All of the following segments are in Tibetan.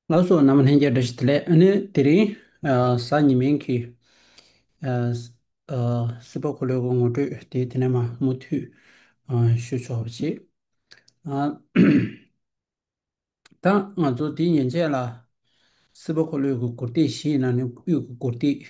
སྔགས་སོགས་རྣམས་ལྷན་སྐྱེས་སྒྲ་བཞིན་ལས། དེ་རིང་གཟའ་ཉི་མའི་གི། སྲིད་པ་འཁོར་ལོའི་དབང་ངོ་སྤྲོད་དེ་དེ་ནས་མ་མུ་མཐུད་ཞུ་ཆོག་པ་བྱེད། ད་ང་ཚོ་དེ་ཉིན་བྱས་ལ། སྲིད་པ་འཁོར་ལོའི་གུར་སྟེགས་བཞི་ཡིན་ན་ནི་དབུས་ཀྱི་གུར་སྟེགས།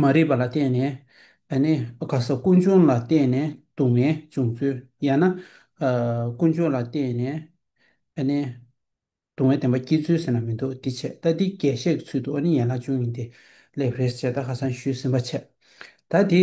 མ་རིག་པ་ལ་བརྟེན་ནས་ད་ནི་ག་ས་ཀུན་འབྱུང་ལ་བརྟེན་ནས་སྡུག་བསྔལ་འབྱུང་ཚུལ་ཡང་ན་ཀུན་འབྱུང་ལ་བརྟེན་ནས་ད་ནི་སྡུག་བསྔལ་བདེན་པ་སྐྱེ་ཚུལ་ཟེར་ན་མི་འདུག་འདི་ཆད་ལྟ་འདི་རྒྱས་བཤད་ཀྱི་ཚུལ་དུ་ཨོ་ནི་ཡན་ལག་བཅུ་གཉིས་འདི་ལས་བྷེ་རེས་བྱེད་ད་ག་སང་ཞུས་ཟིན་པ་ཆད་ལྟ་འདི།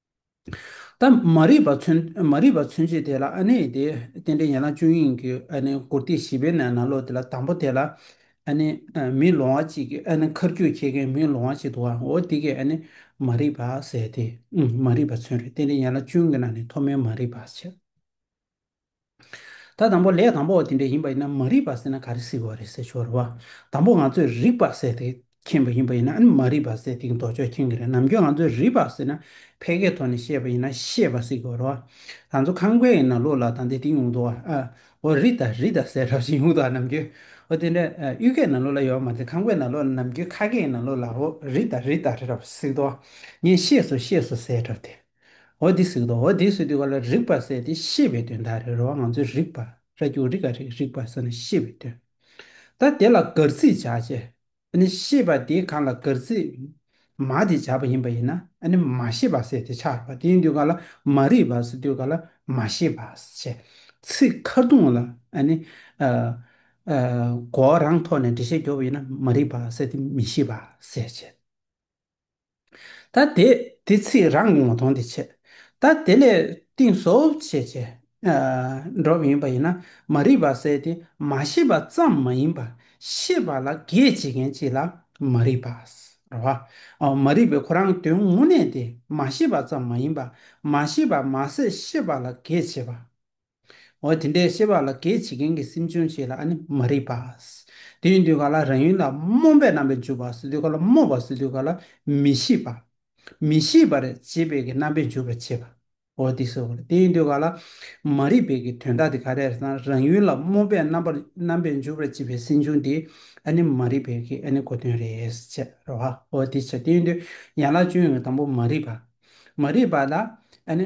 ད་མ་རིག་པ་མཚོན་མ་རིག་པ་མཚོན་བྱེད་དེ་ལ་ཨ་ནི་དེ་རྟེན་འབྲེལ་ཡན་ལག་བཅུ་ཡིན་གྱི་ཨ་ནི་མགུར་སྟེགས་བཞི་པའི་ནང་ན་ལོག་དེ་ལ་དང་པོ་དེ་ལ་ཨ་ནི་མིའི་ལོང་བ་གཅིག་གི་ཨ་ནི་མཁར་རྒྱུད་འཁྱེར་མཁན་མིའི་ལོང་བ་གཅིག་འདུག་ཨང་འོ་དེ་གས་ཨ་ནི་མ་རིག་པ་ཟེར་ཏེ་མ་རིག་པ་མཚོན་རེད་རྟེན་འབྲེལ་ཡན་ལག་བཅུ་གི་ནང་ནས་ཐོག་མའི་མ་རིག་པ་བྱེད། ད་དང་པོ་ལས་དང་པོ་འདི་འདྲ་ཡིན་པ་ཡིན་ན་མ་རིག་པ་ཟེར་ན་ག་རེ་ཟེར་བ་རེད་ཟེར་ཞོར་རེད་བ། དང་པོ་ང་ཚོས་རིག་པ་ཟེར་ཏེ་མཁྱེན་པ་ཡིན་པ་ཡིན་ན་མ་རིག་པ་ཟེར་ཏེ་མདོ་ཕྱོགས་མཁྱེན་གྱི་རེད་ནམ་ཁྱོད་ང་ཚོས་རིག་པ་ཟེར་ན་ཕལ་ཁའི་ཐོག་ནས་བཤད་པ་ཡིན་ན་ཤེས་པ་ཟེར་གྱི་རེད་བ། ད་ཚོ་ཁང་པའི་ཡིན་ན་ལོ་ལ་དང་དེ་དེ་ཡོང་དོ་ཨ། འོ་རིག་ད་རིག་ད་ཟེར་རབས་བཞིན་ཡོང་དོ་ཨ་ནམ་ཁྱོད། འོ་དེ་འདྲ་གཡུལ་ཁའི་ནང་ལོ་ལ་ཡོད་བ་མ་རེད་ཁང་པའི་ནང་ལོ་ནམ་ཁྱོད་ཁ་སྐད་ཡིན་ན་ལོ་ལ་འོ་རིག་ད་རིག་ད་རེད་རབས་ཟེར་གྱི་རེད་བ། ངས་ཤེས་སོ་ཤེས་སོ་ཟེར་རབས་དེ། འོ་དེ་སིག་དོ་འོ་དེ་སིག་དུས་ག་ལ་རིག་པར་ཟད་དེ་ཤེས་པའི་དོན་དག་རེད་རོ་བ་ང་ཚོས་རིག་པར་ར་རྒྱུག་རིག་ག་རིག་རིག་པར་ཟེར་ན་ཤེས་པའི་དོན་ད་དེ་ལ་གར་ཚིག་བྱ་བྱེད་ཨ་ནི་ཤེས་པ་དེ་གང་ལ་གར་ཚིག་མ་དེ་བྱ་བ་ཡིན་པ་ཡིན་ན་ཨ་ནི་མ་ཤེས་པ་ཟེར་དེ་ཆགས་པ་དེ་ཡིན་དུས་ག་ལ་མ་རིག་པར་ཟེར་དུས་ག་ལ་མ་ཤེས་པར་བྱེད་ཚིག་ཁ་རྡུང་ལ་ཨ་ནི་གོ་རང་ཐོག་ནས་འགྲེལ་བཤད་རྒྱོབ་པ་ཡིན་ན་མ་རིག་པར་ཟེར་དེ་མི་ཤེས་པ་ཟེར་བྱེད། ད་དེ། དེ་ཚིག་རང་མྱོང་བ་དང་དེ་ཆད། ད་དེ་ལས་གཏིང་བཟོ་བྱེད་ཅེས། སྒྲོབ་ཡིན་པ་ཡིན་ན་མ་རིག་པ་བསལ་ཏེ་མ་ཤེས་པ་ཙམ་མ་ཡིན་པར་ཤེས་པ་ལ་གེགས་བྱེད་མཁན་གཅིག་ལ་མ་རིག་པ། མ་རིག་པའི་ཁོ་རང་དོན་དངོས་གནས་དེ་མ་ཤེས་པ་ཙམ་མ་ཡིན་པར་མ་ཤེས་པ་མ་ཟད་ཤེས་པ་ལ་གེགས་བྱེད་པ། འོ་དེ་འདྲའི་ཤེས་པ་ལ་གེགས་བྱེད་མཁན་གྱི་སེམས་བྱུང་བྱེད་ལ་ཨ་ནི་མ་རིག་པ། དེ་ཡིན་དུས་ག་ལ་རང་ཡུལ་ལ་རྨོངས་པའི་རྣམ་པས་འཇུག་པ་སོ་དུས་ག་ལ་རྨོངས་པ་སོ་དུས་ག་ལ་མི་ཤེས་པ། མི་ཤེས་པར་བྱེད་པའི་གི་རྣམ་པས་འཇུག་པར་བྱེད་པ། འོ་དེ་སོ། དེ་ཡིན་དུས་ག་ལ་མ་རིག་པའི་གི་དོན་དག་དེ་ག་རེ་དང་རང་ཡུལ་ལ་རྨོངས་པའི་རྣམ་པར་རྣམ་པས་འཇུག་པར་བྱེད་པའི་སེམས་བྱུང་དེ་ཨ་ནི་མ་རིག་པའི་གི་ཨ་ནི་གོ་དོན་རེད། ཅེས་རོ། འོ་དེ་ཕྱིར་དེ་ཡིན་དུས་ཡན་ལག་བཅུའི་ནང་གི་དང་པོ་མ་རིག་པ། མ་རིག་པ་ལ་ཨ་ནི།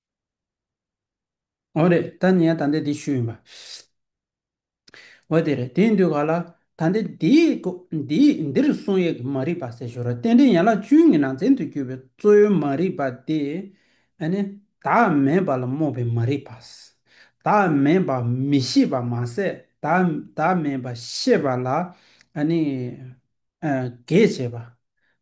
འོ་རེད་ད་ནི་ཡང་དང་འདི་ཞུས་ཡིན་པ། འོ་དེ་རེད་དེའི་མདུད་ག་ལ། ད་འདི་འདིའི་འདིར་གསུང་ཡིག་གི་མ་རིག་པ་སེལ་ཞོར་རྟེན་འབྲེལ་ཡན་ལག་བཅུའི་ངེས་ནང་ཚན་དུ་གྱུར་པའི་གཙོ་བོའི་མ་རིག་པ་དེ་ནི། བདག་མེད་པ་ལ་རྨོངས་པའི་མ་རིག་པ། བདག་མེད་པ་མི་ཤེས་པ་མ་ཟད་བདག་མེད་པ་ཤེས་པ་ལ་གེགས་བྱེད་པ།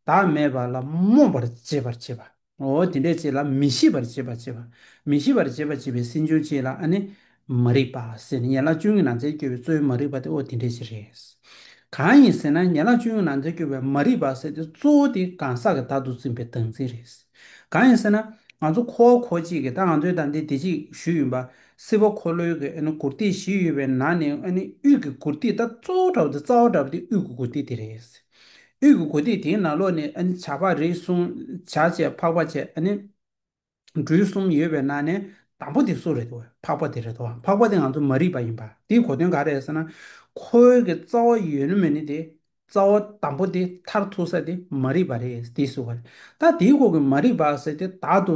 བདག་མེད་པ་ལ་རྨོངས་པར་འབྱེད་པར་བྱེད་པ། ངོ་བོ་དེ་འདྲའི་ཆེད་ལ་མི་ཤེས་པར་བྱེད་པ་བྱེད་པ། མི་ཤེས་པར་བྱེད་པ་བྱེད་པའི་སེམས་བྱུང་ཆེད་ལ་ཨ་ནི། མ་རིག་པ་ཟེར་ནས་ཡན་ལག་བཅུ་གཉིས་ནང་ཚན་བསྐྱོད་པའི་གཙོ་བོའི་མ་རིག་པ་དེ་ཨོ་དེ་འདྲའི་ཆེད་རེད། གང་ཡིན་ཟེར་ན་ཡན་ལག་བཅུ་གཉིས་ནང་ཚན་བསྐྱོད་པའི་མ་རིག་པ་ཟེར་ཏེ་གཙོ་བོ་དེ་གང་ཟག་གི་བདག་ཏུ་འཛིན་པའི་བདག་འཛིན་རེད། གང་ཡིན་ཟེར་ན། ང་ཚོ་འཁོར་བ་འཁོར་གཅིག་གི་ད་ང་ཚོའི་ད་འདི་བདེ་གཅིག་བཞུགས་ཡིན་པ། སྲིད་པ་འཁོར་ལོའི་གི་ཨ་ནི་གུར་སྟེགས་བཞི་ཡོད་པའི་ནང་ནས་ཨ་ནི་དབུས་ཀྱི་གུར་སྟེགས་ད་གཙོ་བོ་འདྲ་བོ་དེ་རྩ་བ་འདྲ་བོ་དེ་དབུས་ཀྱི་གུར་སྟེགས་དེ་རེད། དབུས་ཀྱི་གོ་ཐིག་དེའི་ནང་ལོགས་ནས་བྱ་ཕག་རིགས་གསུམ་བྱ་བཅས་འཕགས་པ་བཅས་འབྲུ་གསུམ་ཡོད་པའི་ནང་ནས་དང་པོ་དེ་སུ་རེད་དོ་འཕགས་པ་དེ་རེད་དོ་འཕགས་པ་དེ་ང་ཚོ་མ་རིག་པ་ཡིན་པ་དེའི་གོ་དོན་ག་རེད་ཟེར་ན། ཁོའི་གི་རྩ་བ་ཡོད་ནི་མེད་ནི་དེ་རྩ་བ་དང་པོ་དེ་མཐར་ཐུག་ས་དེ་མ་རིག་པ་རེད་དེ་སུ་བ་རེད་ད་དེའི་སྐོར་གྱི་མ་རིག་པ་ཟེར་དེ་དག་ཏུ་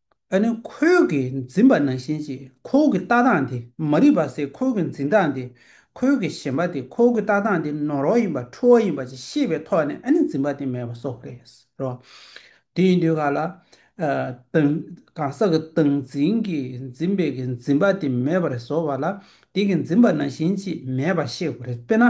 ཨ་ནི་ཁོལ་གྱི་འཛིན་པ་ནང་བཞིན་གྱིས་ཁོལ་གྱི་ལྟ་སྟངས་དེ་མ་རིག་པ་སའི་ཁོལ་གྱི་འཛིན་སྟངས་དེ་ཁོལ་གྱི་ཞེན་པ་དེ་ཁོལ་གྱི་ལྟ་སྟངས་དེ་ནོར་བ་ཡིན་པ་འཁྲུལ་བ་ཡིན་པ་ཅིག་ཤེས་པའི་ཐོག་ནས་ཨ་ནི་འཛིན་པ་དེ་མེད་པ་སོགས་རེད་རོ། དེ་ཡིན་དུས་གང་ལ། དང། གང་ཟག་གི་སྟངས་འཛིན་གྱིས་འཛིན་པའི་གྱི་འཛིན་པ་དེ་མེད་པར་བཟོ་བ་ལ་དེ་གྱི་འཛིན་པ་ནང་བཞིན་གྱིས་མེད་པ་ཤེས་དགོས་རེད་དཔེར་ན།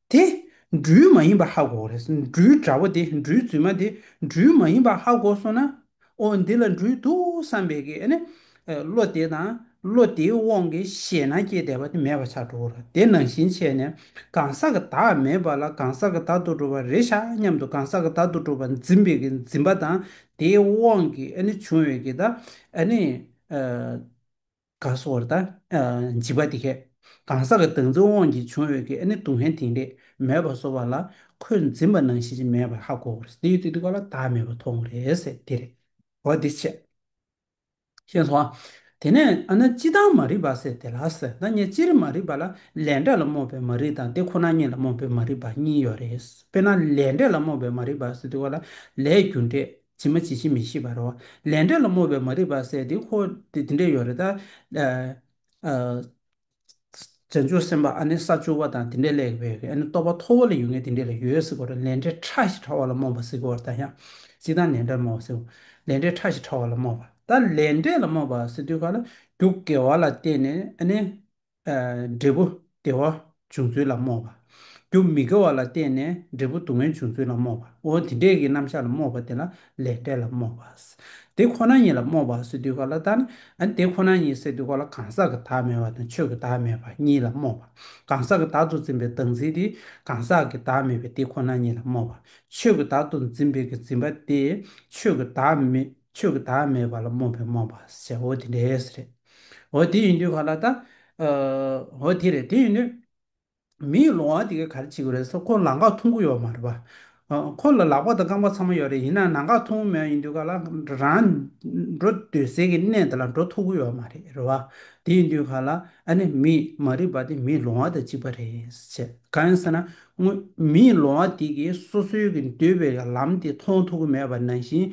དེ། འབྲུའི་མ་ཡིན་པ་ཧ་གོ། འབྲུའི་དགྲ་བོ་དེ་འབྲུའི་རྫུན་མ་དེ་འབྲུའི་མ་ཡིན་པ་ཧ་གོ་སོང་ན། ཨོ་འདི་ལ་འབྲུའི་འདུག་བསམ་པས་ཀྱི་ནི། བློ་དེ་དང་བློ་དེའི་དབང་གིས་ཞེ་སྣང་སྐྱེས་བསྡད་པ་དེ་མེད་པ་ཆགས་འགྲོ་གོ། དེ་ནང་བཞིན་བྱས་ནས་གང་ཟག་གི་བདག་མེད་པ་ལ་གང་ཟག་གི་བདག་ཏུ་གྲུབ་པ་རེད་ཤག་སྙམ་དུ་གང་ཟག་གི་བདག་ཏུ་གྲུབ་པ་འཛིན་པས་ཀྱི་འཛིན་པ་དང་དེའི་དབང་གིས་ནི་བྱུང་བས་ཀྱི་ད་ནི། ག་སོར་དང། འཇིགས་པ་འདི་སྐད། གང་ཟག་གི་བདག་འཛིན་དབང་གིས་བྱུང་འོས་ཀྱི་ཨ་ནི་སྡུག་བསྔལ་དེང་རེས་མེད་པར་བཟོ་བ་ལ་ཁོས་འཛིན་པ་ནང་བཞིན་ཅིག་མེད་པར་ཧ་གོ་བ་རེད། དེ་ཡོད་དེ་འདུག་ག་ལ་བདག་མེད་པར་མཐོང་བ་རེད་ཟེར་དེ་རེད། འོ་དེ་ཆད། ཤེས་སོང་ཨ། དེ་ནས་ཨ་ན་ཅི་དང་མ་རིག་པ་ཟེར་དེ་ལ་ཟེར་ན་ངས་ཅི་རིགས་མ་རིག་པ་ལ་ལས་འབྲས་ལ་རྨོངས་པའི་མ་རིག་དང་དེ་ཁོ་ན་ཉིད་ལ་རྨོངས་པའི་མ་རིག་པ་གཉིས་ཡོད་རེད། དཔེར་ན་ལས་འབྲས་ལ་རྨོངས་པའི་མ་རིག་པ་ཟེར་དུས་ཀ་ལ་ལས་རྒྱུ་འབྲས་ཇི་མ་ཇི་བཞིན་མི་ཤེས་པར་རོ། ལས་འབྲས་ལ་སྨོད་པའི་མ་རིག་པ་ཟད་དེ་ཧོ། དེ་འདི་འདྲས་ཡོད་རེད་ད། བྱང་ཆུབ་སེམས་དཔའ་ཨ་ནི་ས་བཅུ་བ་དང་དེ་འདྲས་ལེགས་པའི་ཨ་ནི་རྟོགས་པ་མཐོ་བོ་ལ་ཡོད་ངེས་དེ་འདྲས་ལ་ཡོད་ཟེར་དགོས་རེད་ལས་འབྲས་ཕྲ་ཞིག་ཕྲ་བ་ལ་སྨོད་པ་ཟེར་དགོས་རེད་ད་ཡང། ཅིག་ད་ལས་འབྲས་སྨོད་པ་ཟེར། ལས་འབྲས་ཕྲ་ཞིག་ཕྲ་བ་ལ་སྨོད་པ། ད་ལས་འབྲས་ལ་སྨོད་པ་ཟེར་དུས་ག་ལ་རྒྱུ་དགེ་བ་ལ་བརྟེན་ནས་ཨ་ནི། འབྲས་བུ་བདེ་བ་འབྱུང་ཚུལ་ལ་རྨོངས་པ། རྒྱུ་མི་དགེ་བ་ལ་བརྟེན་ནས་འབྲས་བུ་སྡུག་བསྔལ་འབྱུང་ཚུལ་ལ་རྨོངས་པ། འོ་དེ་འདྲས་ཀྱི་རྣམ་གཞག་ལ་རྨོངས་པ་དེ་ལ་ལས་འབྲས་ལ་རྨོངས་པ། དེ་ཁོ་ན་ཉིད་ལ་རྨོངས་པའོ་སེ་འདུས་ག་ལ་དག་ན། དེ་ཁོ་ན་ཉིད་སེ་འདུས་ག་ལ་གང་ཟག་གི་བདག་མེད་པ་དང་ཆོས་ཀྱི་བདག་མེད་པ་གཉིས་ལ་རྨོངས་པ། གང་ཟག་གི་བདག་ཏུ་འཛིན་པའི་བདག་འཛིན་དེ་གང་ཟག་གི་བདག་མེད་པའི་དེ་ཁོ་ན་ཉིད་ལ་རྨོངས་པ། ཆོས་ཀྱི་བདག་ཏུ་འཛིན་པའི་གྱི་འཛིན་པ་དེ་ཆོས་ཀྱི་བདག་མེད། ཆོས་ཀྱི་བདག་མེད་པ་ལ་རྨོངས་པའི་རྨོངས་པ་ཟེར་འོ་དེ་འདྲས་རེད། འོ་དེ་ཡིན་དུས་ག་ལ་ད། འོ་དེ་རེད་དེ་ཡིན་དུས། མིའི་ལོང་བ་དེ་གས་ག་རེ་བྱེད་གི་རེད་ས་ཁོ་ལག་འགག་འཐུང་གི་ཡོད་མ་རེད་པ། ཁོ་ལ་ལག་པ་དང་རྐང་པ་ཚང་མ་ཡོད་རེད་ཡིན་ནའང་ནང་འགག་འཐུང་གི་མེད་ཡིན་དུས་ག་ལ་རང་འགྲོ་འདོད་སའི་གི་གནས་དེ་ལ་འགྲོ་ཐུབ་གི་ཡོད་མ་རེད་རེད་བ། དེ་ཡིན་དུས་ག་ལ་ཨ་ནི་མི་མ་རིག་པ་དེ་མིའི་ལོང་བ་དང་གཅིག་པ་རེད། གང་ཡིན་ཟེར་ན་དངོས། མིའི་ལོང་བ་དེ་གིས་སོ་སོའི་གི་འདོད་པའི་ལམ་དེ་མཐོང་ཐུབ་ཀི་མེད་པ་ནང་བཞིན་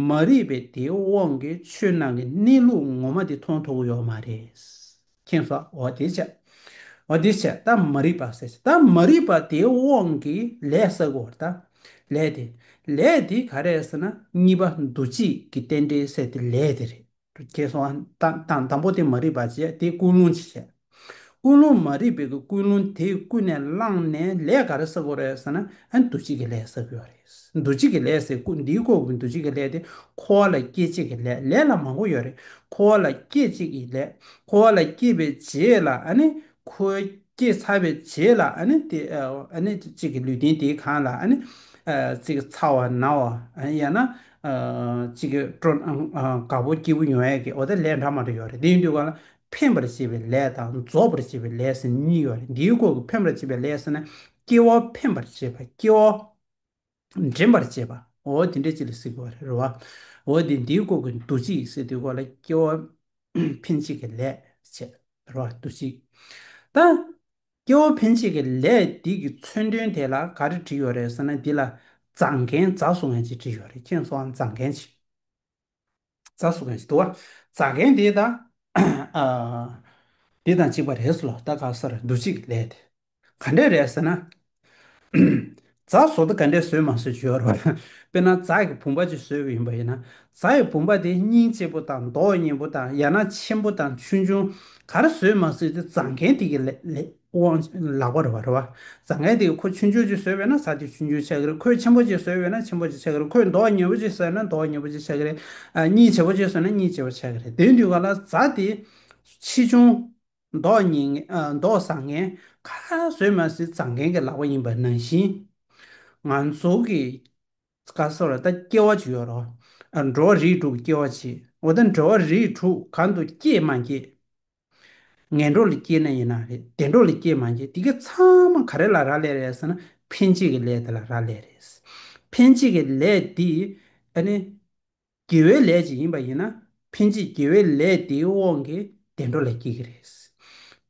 མ་རིག་པའི་དེའི་དབང་གིས་ཆོས་ནང་གི་གནས་ལུགས་ངོ་མ་དེ་མཐོང་ཐུབ་ཀི་ཡོད་མ་རེད། མཁྱེན་སོ་འོ་དེ་བྱས། འོ་དེ་བྱས་ད་མ་རིག་པ་ཟེར་ད་མ་རིག་པ་དེའི་དབང་གིས་ལས་བསགས་ཀི་འོ་ད་ལས་དེ། ལས་དེ་ག་རེད་ཟེར་ན་གཉིས་པ་འདུ་བྱེད་ཀི་རྟེན་འབྲེལ་ཟེར་དེ་ལས་དེ་རེད། དགེ་སོང་དང་དང་པོ་དེ་མ་རིག་པ་བྱས་དེ་ཀུན་སློང་བྱས། ཀུན་སློང་མ་རིག་པའི་ཀུན་སློང་དེ་ཀུན་ནས་བསླངས་ནས་ལས་ག་རེ་བསགས་དགོས་རེད་ཟེར་ན་འདུ་བྱེད་ཀྱི་ལས་བསགས་དགོས་རེད། འདུ་བྱེད་ཀྱི་ལས་ཟེར་ཀུན་འདིའི་ཁོག་གི་འདུ་བྱེད་ཀྱི་ལས་དེ་འཁོར་བ་ལ་སྐྱེད་བྱེད་ཀྱི་ལས་ལས་ལ་མང་པོ་ཡོད་རེད། འཁོར་བ་ལ་སྐྱེད་བྱེད་ཀྱི་ལས། འཁོར་བ་ལ་སྐྱེད་པའི་རྗེས་ལ་འཁོར་བའི་སྐྱེད་ཚར་བའི་རྗེས་ལ་དེ་གཅིག་གི་ལུས་རྟེན་དེ་གང་ལ་ཚིག་ཚ་བ་ན་བ་ཡང་ན་གཅིག་གིས་སྤྲོ་ན་དགའ་བོ་སྐྱེས་བུ་ཉོན་ཡོད་ཀྱི་འོ་དེ་ལས་འདྲ་མ་འདྲ་ཡོད་རེད་དེ་ཡིན་དུས་གང་ལ་ཕན་པར་བྱེད་པའི་ལས་དང་རྫོགས་པར་བྱེད་པའི་ལས་ཟེར་གཉིས་ཡོད་རེད་འདིའི་སྐོར་གྱི་ཕན་པར་བྱེད་པའི་ལས་ཟེར་ན་སྐྱེ་བོ་ཕན་པར་བྱེད་པ་སྐྱེ་བོ་འདྲེན་པར་བྱེད་པ་འོ་དེ་འདྲའི་ཅིག་ལ་ཟེར་གྱི་རེད་བ། འོ་དེ་འདིའི་སྐོར་གྱི་འདུ་བྱེད་ཟེར་དུས་གང་ལ་སྐྱེ་བོ་ཕན་བྱེད་ཀྱི་ལས་བྱེད་རེད་བ་འདུ་བྱེད་ད། སྐྱེ་བོ་ཕན་ཆད་ཀྱི་ལས་འདི་གི་མཚོན་དོན་དེ་ལ་ག་རེ་བྲིས་ཡོད་རེད་ཟེར་ན་འདི་ལ་བཟང་མཁན་རྫ་བཟོ་མཁན་ཅིག་བྲིས་ཡོད་རེད་ཁྱེད་ཚོའང་བཟང་མཁན་ཅིག་རྫ་བཟོ་མཁན་ཅིག་འདུག་བ་རྫ་མཁན་དེ་དང་འདི་དང་གཅིག་པ་རེད་ཟེར་ལོ་ད་ག་ས་རེད་འདུག་གཅིག་གི་ལས་དེ་ག་འདྲས་རེད་ཟེར་ན་རྫ་བཟོ་ལྟ་ག་འདྲས་བཟོས་མ་བཟོས་ཞོར། དཔེར་ན་རྫ་ཡི་བུམ་པ་ཅིག་བཟོས་པ་ཡིན་པ་ཡིན་ན། རྫ་ཡི་བུམ་པ་དེ་སྙིང་ལྕི་པོ་དང་མདོག་སྙན་པོ་དང་ཡང་ན་ཆེན་པོ་དང་ཆུང་ཆུང་གར་བཟོས་མ་བཟོས་དེ་རྫ་མཁན་དེ་གི་དབང་ལག་པར་རེད། རྫ་མཁན་དེ་གི་ཁོ་ཆུང་ཆུང་ཅིག་བཟོས་པས་ན་རྫ་དེ་ཆུང་ཆུང་ཆགས་ཀྱི་རེད་ཁོས་ཆེན་པོ་ཅིག་བཟོས་པས་ན་ཆེན་པོ་ཅིག་ཆགས་ཀྱི་རེད་ཁོས་མདོག་སྙན་པོ་ཅིག་བཟོས་ན་མདོག་སྙན་པོ་ཅིག་ཆགས་ཀྱི་རེད། སྙིང་ལྕི་པོ་ཅིག་བཟོས་ན་སྙིང་ལྕི་པོ་ཆགས་ཀྱི་རེད་དེའི་དུས་ག་ལ་རྫ་དེ་ཆེ་ཆུང། མདོག་སྙན་ངན། མདོག་བཟང་ངན། ཁ་སང་ཟོས་མ་ཟིན་བཟང་ངན་གྱི་ལག་པ་ཡིན་པ་ནང་བཞིན། ང་ཚོ་གི་ཀ་སོགས་ལ་ད་སྐྱེ་བ་ཅིག་ཡོད་རོགས། འགྲོ་བ་རིས་དྲུག་སྐྱེ་བ་ཅིག་འོ་ད་འགྲོ་བ་རིས་དྲུག་གང་དུ་སྐྱེས་མ་སྐྱེས། ངན་འགྲོ་ལ་སྐྱེས་ན་ཡིན་ན་རེད་བདེ་འགྲོ་ལ་སྐྱེས་མ་སྐྱེས་དེ་ག་ཚང་མ་ག་རེ་ལ་རག་ལས་རེད་ཟེར་ན་ཕན་བྱེད་ཀྱི་ལས་དེ་ལ་རག་ལས་རེད། ཕན་བྱེད་ཀྱི་ལས་འདི་ཨ་ནི། དགེ་བའི་ལས་ཅིག་ཡིན་པ་ཡིན་ན་ཕན་ཆད་དགེ་བའི་ལས་དེའི་དབང་གིས་བདེ་འགྲོ་ལ་སྐྱེ་གི་རེད།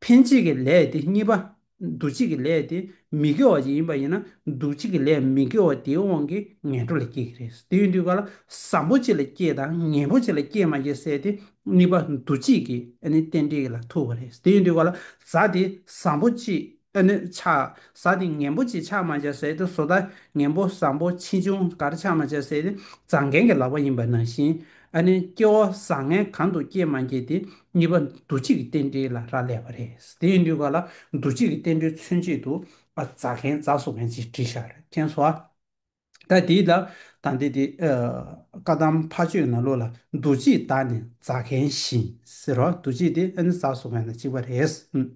ཕན་ཆད་ཀྱི་ལས་དེ་གཉིས་པ་འདུ་བྱེད་ཀྱི་ལས་དེ་མི་དགེ་བ་ཅིག་ཡིན་པ་ཡིན་ན་འདུ་བྱེད་ཀྱི་ལས་མི་དགེ་བ་དེའི་དབང་གིས་ངན་འགྲོ་ལ་སྐྱེ་གི་རེད། དེ་ཡིན་དུས་ག་ལ་བཟང་པོ་ཆེ་ལ་སྐྱེ་དང་ངན་པོ་ཆེ་ལ་སྐྱེ་མ་སྐྱེ་བསལ་ཏེ་གཉིས་པ་འདུ་བྱེད་ཀྱི་རྟེན་འབྲེལ་ལ་ཐུག་པ་རེད། དེ་ཡིན་དུས་ག་ལ་བཟའ་དེ་བཟང་པོ་ཆེ་ཨ་ནུ། ཆགས་བཟའ་དེ་ངན་པོ་ཅིག་ཆགས་མ་བྱ་ཟེར་ཏེ་བཟོ་ལྟ་ངན་པོ་བཟང་པོ་ཕྱིས་ཆུང་དར་ཆགས་མ་བྱ་ཟེར་ཏེ་བཟང་རྒན་གྱི་ལག་པ་ཡིན་པ་ནང་བཞིན་ཨ་ནུའི་སྐྱེ་བོ་བཟང་ངན་གང་དུ་སྐྱེས་མ་སྐྱེས་དེ་གཉིས་པ་འདུ་བྱེད་ཀྱི་རྟེན་འབྲེལ་ལ་རག་ལས་པ་རེད། དེ་ཡིན་དུས་ག་ལ་འདུ་བྱེད་ཀྱི་རྟེན་འབྲེལ་མཚོན་བྱེད་དུ་ཨ་བཟའ་མཁན་བཟའ་བཟོ་མཁན་ཅེས་བྲིས་ཤག་རེད་མཁྱེན་སོ། ད་དེའི་ལ་དང་འདི་དེ། བཀའ་གདམས་ཕ་ཆོས་ན་ལོ་ལ་འདུ་བྱེད་དག་ནི་རྫ་མཁན་བཞིན་ཟེར་རོ་འདུ་བྱེད་དེ་ཨ་ནི་ཟ་སོགས་མེད་ན་གཅིག་པ་རེད།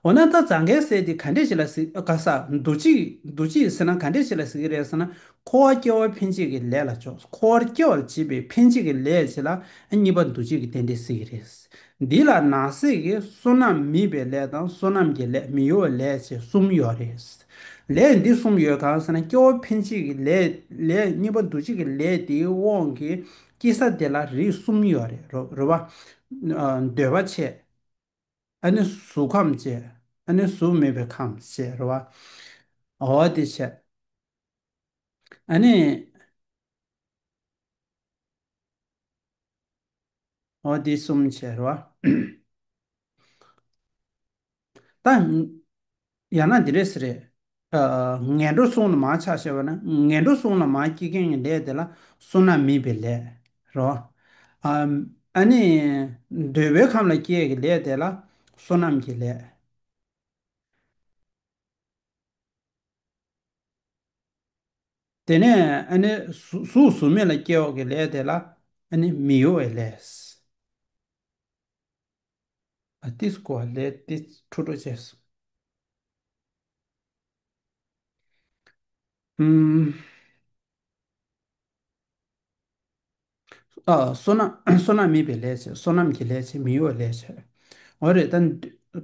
འོ་ན་ད་རྫ་མཁན་ཟས་དེ་ག་འདྲས་ཆེ་ལ་གཟིགས་ག་ས་འདུ་བྱེད་འདུ་བྱེད་ཟེར་ན་ག་འདྲས་ཆེ་ལ་གཟིགས་ཀྱི་རེད་ཟེར་ན་འཁོར་བར་སྐྱེ་བ་འཕེན་བྱེད་ཀྱི་ལས་ལ་ཕྱོགས་འཁོར་བར་སྐྱེ་བར་བྱེད་པའི་འཕེན་བྱེད་ཀྱི་ལས་བྱེད་ལ་གཉིས་པ་འདུ་བྱེད་ཀྱི་རྟེན་འབྲེལ་གཟིགས་ཀྱི་རེད། འདི་ལ་ནང་གསེས་ཀྱི་བསོད་ནམས་མིན་པའི་ལས་དང་བསོད་ནམས་ཀྱི་ལས་མི་གཡོ་བའི་ལས་བཅས་གསུམ་ཡོད་རེད། ལས་འདི་གསུམ་ཡོད་གང་ཟེར་ན་སྐྱེ་བོ་འཕེན་བྱེད་ཀྱི་ལས་ལས་གཉིས་པ་འདུ་བྱེད་ཀྱི་ལས་དེའི་དབང་གིས་སྐྱེ་ས་དེ་ལ་རིགས་གསུམ་ཡོད་རེད་རོ་བ། འདོད་པ་ཆེ། ཨ་ནི་གཟུགས་ཁམས་ཆེ། ཨ་ནི་གཟུགས་མེད་པའི་ཁམས་ཆེ་རོ་བ། འོ་དེ་ཆེ། ཨ་ནི། འོ་དེ་གསུམ་ཆེ་རོ་བ། ད་ཡང་ན་འདི་རེད་ཟེར། ངན་འགྲོ་སོང་ལ་མ་ཆགས་ཞེས་པ་ནི་ངན་འགྲོ་སོང་ལ་མ་སྐྱེས་མཁན་གྱི་ལས་དེ་ལ་སོ་ན་མིད་པའི་ལས་རོ། ཨ་ནི། འདོད་པའི་ཁམས་ལ་སྐྱེས་ཀྱི་ལས་དེ་ལ་སོ་ནམས་ཀྱི་ལས། དེ་ནས་ཨ་ནི། གཟུགས་གཟུགས་མེད་ལ་སྐྱེ་བ་གྱི་ལས་དེ་ལ་ཨ་ནི་མི་གཡོ་བའི་ལས། ཏིས་བསྐོར་བ་ལས་ཏིས་འཁྲུ་འགྲོ་བྱེད། བསོད་ནམས་མེད་པའི་ལས་བྱེད་བསོད་ནམས་ཀྱི་ལས་བྱེད་མི་གཡོ་བའི་ལས་བྱེད། འོ་རེད་ད།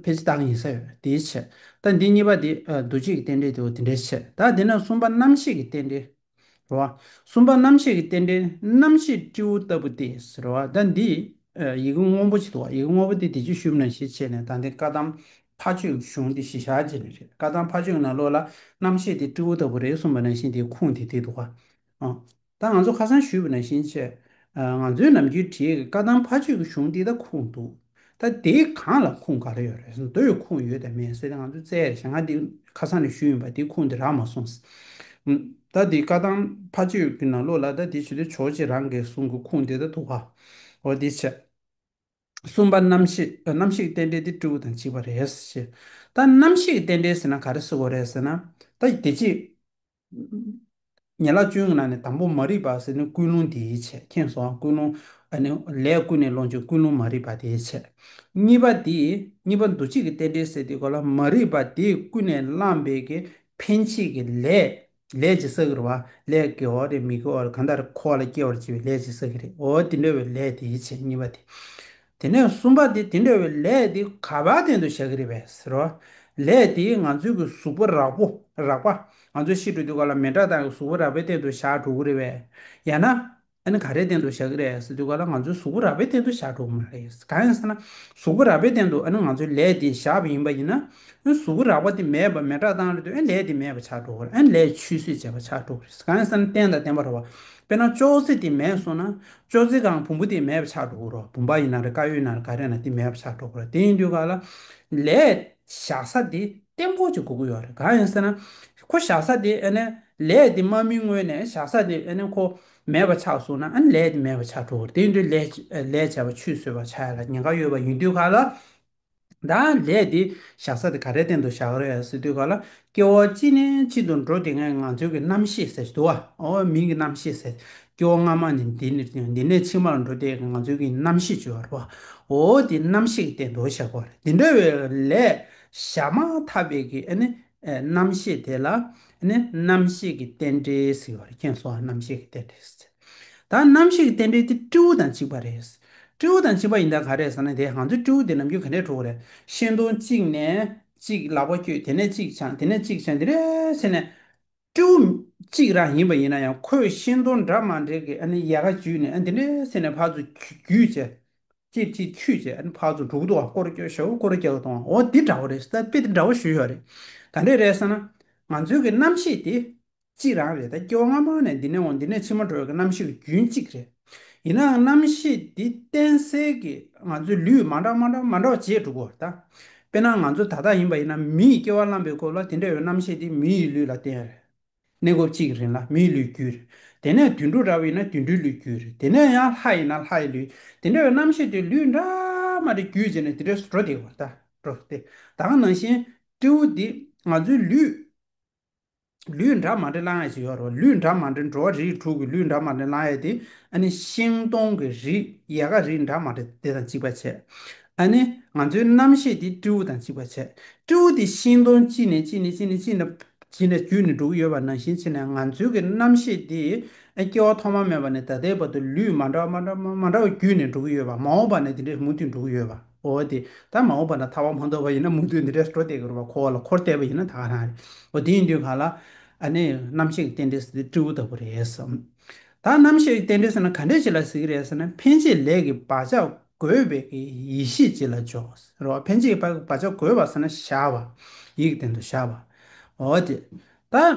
ཕལ་ཆེར་བདག་གཉིས་ས་ཡོད་དེའི་ཕྱིར། ད་འདི་གཉིས་པ་དེ། འདུ་བྱེད་ཀྱི་རྟེན་འབྲེལ་དེའོ་དེ་འདྲའི་ཕྱིར། ད་དེ་ནས་གསུམ་པ་རྣམ་ཤེས་ཀྱི་རྟེན་འབྲེལ། རེ་བ། གསུམ་པ་རྣམ་ཤེས་ཀྱི་རྟེན་འབྲེལ་རྣམ་ཤེས་སྤྲེའུ་ལྟ་བུ་སྟེ་རེ་བ། ཟླ་འདིས། ཡི་གེ་སྔོན་པོ་བྱེད་དོ། ཡི་གེ་སྔོན་པོ་དེ་དེ་ཅི་ཞུབས་ན་ཞེས་བྱས་ནས་ད་འདི་བཀའ་གདམས་ཕ་ཆོས་གཞུང་འདི་ཞི་ཤག་བྱེད་ནི་རེད་བཀའ་གདམས་ཕ་ཆོས་ན་བློ་ལ་རྣམ་ཤེས་དེ་སྤྲེའུ་ལྟ་བུ་རེད་གསུངས་པ་ན་ཤིང་དེའི་ཁུངས་དེ་དེ་འདུག་ག། ད་ང་ཚོ་ཁ་སང་ཞུས་པ་ན་ཤིང་བྱས། ང་ཚོའི་ནམ་རྒྱུན་བྲིས་ཀྱི་བཀའ་གདམས་ཕ་ཆོས་ཀྱི་གཞུང་འདི་ད་ཁུངས་འདུག། ད་དེ་གང་ལ་ཁུངས་ག་རེ་ཡོད་རེད་ཟེར་ན་དོ་ཡོད་ཁུངས་ཡོད་དེ་མེད་ཟེར་ཏེ་ང་ཚོས་བཙལ་རེ་བྱས་ང་དེ་ཁ་སང་ནས་ཞུས་ཡིན་པ་དེ་ཁུངས་དེ་རག་མ་སོང་ཟེར། ད་དེ་བཀའ་ཐང་ཕ་ཆོས་ཀྱི་ནང་ལོགས་ལ་ད་དེ་ཇི་ལྟར་ཆོག་ཅེས་རང་གིས་བཟུང་གི་ཁུངས་དེ་ད་དུ་བྷ་འོ་དེ་བྱས། གསུམ་པ་གནམ་གཤིས་རྟེན་འབྲེལ་དེ་སྤྲེའུ་དང་གཅིག་པ་རེད་ཟེར། ད་གནམ་གཤིས་རྟེན་འབྲེལ་ཟེར་ན་ག་རེ་བསྲེ་དགོས་རེད་ཟེར་ན། ད་དེ་རྗེས་ཉེ་ལག་བཅུའི་ནང་ནས་དང་པོ་མ་རིག་པ་ཟེར་ནི་ཀུན་སློང་དེའི་ཆེད་མཁྱེན་སོང་ཀུན་སློང་ཨ་ནི་ལས་ཀུན་ནས་སློང་ཆོག་ཀུན་སློང་མ་རིག་པ་དེའི་ཆེད། གཉིས་པ་དེ་གཉིས་པ་འདུ་བྱེད་ཀྱི་རྟེན་འབྲེལ་ཟེར་དེ་གོ་ལ་མ་རིག་པ་དེ་ཀུན་ནས་བསླངས་པའི་གི་འཕེན་བྱེད་ཀྱི་ལས་ལས་ཀྱི་ས་གི་རུ་བ་ལས་ཀྱི་འོ་རེད་མི་ཀྱི་འོ་རེད་གང་དག་རེད་འཁོར་བ་ལ་སྐྱེ་བར་བྱེད་པའི་ལས་ཀྱི་ས་གི་རེད་འོ་དེ་འདྲ་བའི་ལས་དེའི་ཆེད་གཉིས་པ་དེ། དེ་ནས་གསུམ་པ་དེ་དེ་འདྲ་བའི་ལས་དེ་ག་བ་དན་དུ་བྱ་གི་རེད་པས་ཟེར་རོ། ལས་དེས་ང་ཚོའི་གི་གཟུགས་པོ་རགས་པོ་རགས་པ་ང་ཚོའི་ཤི་འགྲོ་དུས་སྐབས་ལ་མེ་དགྲ་དང་གི་གཟུགས་པོ་རགས་པའི་སྟེང་དུ་བཞག་འགྲོ་གི་རེད་པས། ཡང་ན། ཨ་ནི་ག་རེའི་སྟེང་དུ་བཞག་གི་རེད་ཟེར་དུས་སྐབས་ལ་ང་ཚོའི་གཟུགས་པོ་རགས་པའི་སྟེང་དུ་བཞག་འགྲོ་གི་མ་རེད། གང་ཡིན་ཟེར་ན། གཟུགས་པོ་རགས་པའི་སྟེང་དུ་ཨ་ནི་ང་ཚོའི་ལས་དེ་བཞག་པ་ཡིན་པ་ཡིན་ན། ཨ་ནི་གཟུགས་པོ་རགས་པ་དེ་མེད་པ་མེ་དགྲ་བཏང་རེད་དུས་ཨ་ནི་ལས་དེ་མེད་པ་ཆགས་འགྲོ་གི་རེད་ཨ་ནི་ལས་ཆུད་ཟོས་བྱས་པ་ཆགས་འགྲོ་གི་རེད། གང་ཡིན་ཟེར་ན་བསྟན་དང་བསྟན་པར་བ་དཔེར་ན་ཅོག་ཙེ་དེ་མེད་སོང་ན། ཅོག་ཙེ་གང་བུམ་པོ་དེ་མེད་པ་ཆགས་འགྲོ་གི་རོ་བུམ་པ་ཡིན་ན་རེ་ཀ་ཡོད་ན་རེ་ཀ་རེ་ན་དེ་མེད་པ་ཆགས་འགྲོ་གི་རོ་དེ་ཡིན་དུས་ག་ལ། ལས། བཞག་ས་དེ་ལྟེམ་ཁོག་ཅིག་གོ་གི་ཡོད་རེད་གང་ཡིན་ཟེར་ན། ཁོ་བཞག་ས་དེ་ཨེ་ནས། ལས་དེ་མ་སྨིན་སྔོན་ནས་བཞག་ས་དེ་ཨེ་ནས་ཁོ། མེད་པ་ཆགས་སོང་ན་ཨེ་ནས་ལས་དེ་མེད་པ་ཆགས་འགྲོ་གི་རེད་དེ་ཡིན་དུས་ལས། ལས་བྱས་པ་ཆུད་ཟོས་པ་ཆགས་ཡ་ལ་ཉེན་ཁ་ཡོད་པ་ཡིན་དུས་ག་ལ། བདག་ལས་དེ་བཞག་ས་དེ་ག་རེ་སྟེང་དུ་བཞག་རེད་ཟེར་དུས་ག་ལ་སྐྱེ་བོ་གཅིག་ནས་གཅིག་ཏུ་འགྲོ་དེ་ངས་ང་ཚོའི་གི་རྣམ་ཤེས་ཟེར་དུ་བ་མིང་གི་རྣམ་ཤེས་ཟེར་སྐྱེ་བོ་སྔ་མ་ནས་འདི་ནས་འདི་ནས་ཕྱི་མར་འགྲོ་དེ་ང་ཚོའི་གི་རྣམ་ཤེས་བཅོས་བར་བའོ་དེ་རྣམ་ཤེས་ཀྱི་སྟེང་དུ་བཞག་པ་རེད་དེ་འདྲ་བའི་ལས་བཞག་མ་ཐག་པའི་གི་རྣམ་ཤེས་དེ་ལ་རྣམ་ཤེས་ཀྱི་རྟེན་འབྲེལ་ཟེར་བ་རེད་ཁྱེད་གསུང་བ་རྣམ་ཤེས་ཀྱི་རྟེན་འབྲེལ་ཟེར། ད་ནམ་ཞིག་རྟེན་འབྲེལ་དེ་སྤྲེའུ་དང་གཅིག་པ་རེད། སྤྲེའུ་དང་གཅིག་པ་ཡིན་ད་ག་རེད་ཟེར་ན་དེ་གང་ཚོད་སྤྲེའུ་དེ་ནམ་རྒྱུན་ག་འདྲས་འཁྲུག་གི་རེད། ཤིང་སྡོང་གཅིག་ནས་གཅིག་ལག་པ་བསྐྱོད་དེ་ནས་གཅིག་འཕྱང་དེ་ནས་གཅིག་འཕྱང་དེ་རེད་ཟེར་ནས། སྤྲེའུ་གཅིག་རང་ཡིན་པ་ཡིན་ན་ཡང་ཁོས་ཤིང་སྡོང་འདྲ་མང་འདྲེས་ཀྱི་ཡལ་ག་འཇུས་ནས་དེ་འདྲས་ཟེར་ནས་ཕར་ཚུར་བརྒྱུད་བྱས། ཅིར་ཅིར་འཁྱུད་བྱས་ཕར་ཚུར་འབྲུག་ཏུ་བ་སྐོར་བསྐྱོད་ཞོག་བ་སྐོར་བསྐྱལ་བ་དང་འོ་འདི་འདྲ་བོ་རེད་ད་དཔེ་དེ་འདྲ་བོ་ཞུ་ཞོག་རེད། ག་འདྲས་རེད་ཟེར་ན། ང་ཚོའི་གི་རྣམ་ཤེས་དེ་གཅིག་རང་རེད་ད་སྐྱེ་བ་སྔ་མོ་ནས་འདི་ནས་འོང་འདི་ནས་ཕྱི་མ་འགྲོ་བའི་རྣམ་ཤེས་ལ་རྒྱུན་གཅིག་རེད། ཡིན་ནའང་རྣམ་ཤེས་འདི་གཏན་སེལ་གྱི་ང་ཚོའི་ལུས་མ་འདྲ་མ་འདྲ་མ་འདྲ་བ་བྱེད་འགྲོ་གོ་ད། དཔེར་ན་ང་ཚོ་ད་ལྟ་ཡིན་པ་ཡིན་ན་མི་ཡི་སྐྱེ་བ་བླངས་པའི་སྐོར་ལ་དེ་འདྲ་ཡོད་རྣམ་ཤེས་འདི་མི་ཡི་ལུས་ལ་བརྟེན་རེད། གནས་སྐབས་གཅིག་རིང་ལ་མིའི་ལུས་རྒྱུ་རེད། དེ་ནས་དུད་འགྲོ་འདྲ་བོ་ཡིན་ན་དུད་འགྲོའི་ལུས་རྒྱུ་རེད་དེ་ནས་ཡང་ལྷ་ཡིན་ན་ལྷའི་ལུས་དེ་འདྲ་ཡོད་རྣམ་ཤེས་འདི་ལུས་འདྲ་མ་འདྲ་རྒྱུད་རྗེས་ནས་དེ་འདྲས་སུ་འགྲོ་བདེ་གོ་ད་འགྲོ་བདེ། ད་ང་ནང་བཞིན་སྤྲེའུ་འདི་ང་ཚོའི་ལུས། ལུས་འདྲ་མ་འདྲེ་བསླང་ཡས་ཞེས་ཡོད་རེད། ལུས་འདྲ་མ་འདྲེ་འགྲོ་བ་རིགས་དྲུག་གི་ལུས་འདྲ་མ་འདྲེ་བསླང་ཡས་དེ། ཨ་ནི། ཤིང་སྡོང་གི་རིགས་ཡལ་ག་རིགས་འདྲ་མ་འདྲེ་དེ་དང་གཅིག་པ་བྱས། ཨ་ནི། ང་ཚོའི་རྣམ་ཤེས་དེ་སྤྲེའུ་དང་གཅིག་པ་བྱས། སྤྲེའུ་དེ་ཤིང་སྡོང་གཅིག་ནས་གཅིག་ནས་གཅིག་ནས་གཅིག་ནས། གཅིག་ནས་བརྒྱུད་ནས་འགྲོ་གི་ཡོད་པ་ནང་བཞིན་བྱས་ནས་ང་ཚོའི་གི་རྣམ་ཤེས་དེ། སྐྱེ་བ་ཐོག་མ་མེད་པ་ནས་ད་ལྟའི་བར་དུ་ལུས་མ་འདྲ་བ་མ་འདྲ་བ་མ་འདྲ་བ་བརྒྱུད་ནས་འགྲོ་གི་ཡོད་པ་མ་འོངས་པ་ནས་དེ་འདྲས་མུ་མཐུད་འགྲོ་གི་ཡོད་པ། འོ་དེ་ལྟར་མ་འོངས་པ་ན་ཐར་བ་མ་འདོར་བ་ཡིན་ན་མུ་མཐུད་འདི་འདྲའི་སྤྲོ་བསྡད་ཀྱི་རུ་བ་འཁོར་བ་ལ་འཁོར་བསྡད་པ་ཡིན་ན་ད་ག་རང་རེད། འོ་དེ་ཡིན་དུས་ག་ལ། ཨ་ནི་རྣམ་ཤེས་ཀྱི་རྟེན་འབྲེལ་ཟེར་དུས་སྤྲེའུ་ལྟ་བུ་རེད་བསམ། ད་རྣམ་ཤེས་ཀྱི་རྟེན་འབྲེལ་ཟེར་ན་ག་འདྲའི་ཆེ་ལ་གཟིགས་ཀྱི་རེད་ཟེར་ན་འཕེན་བྱེད་ལས་ཀྱི་བག་ཆགས་རྒོད་བས་ཀྱི་ཡིད་ཤེས་ཅི་ལ་འཇོག་ཟེར་རོ། འཕེན་བྱེད་ཀྱི་བག་ཆགས་རྒོད་བ་ཟེར་ན་བཞག་བ། ཡིད་ཀྱི་སྟེང་དུ་བཞག་བ། འོ་དེ་ལྟར།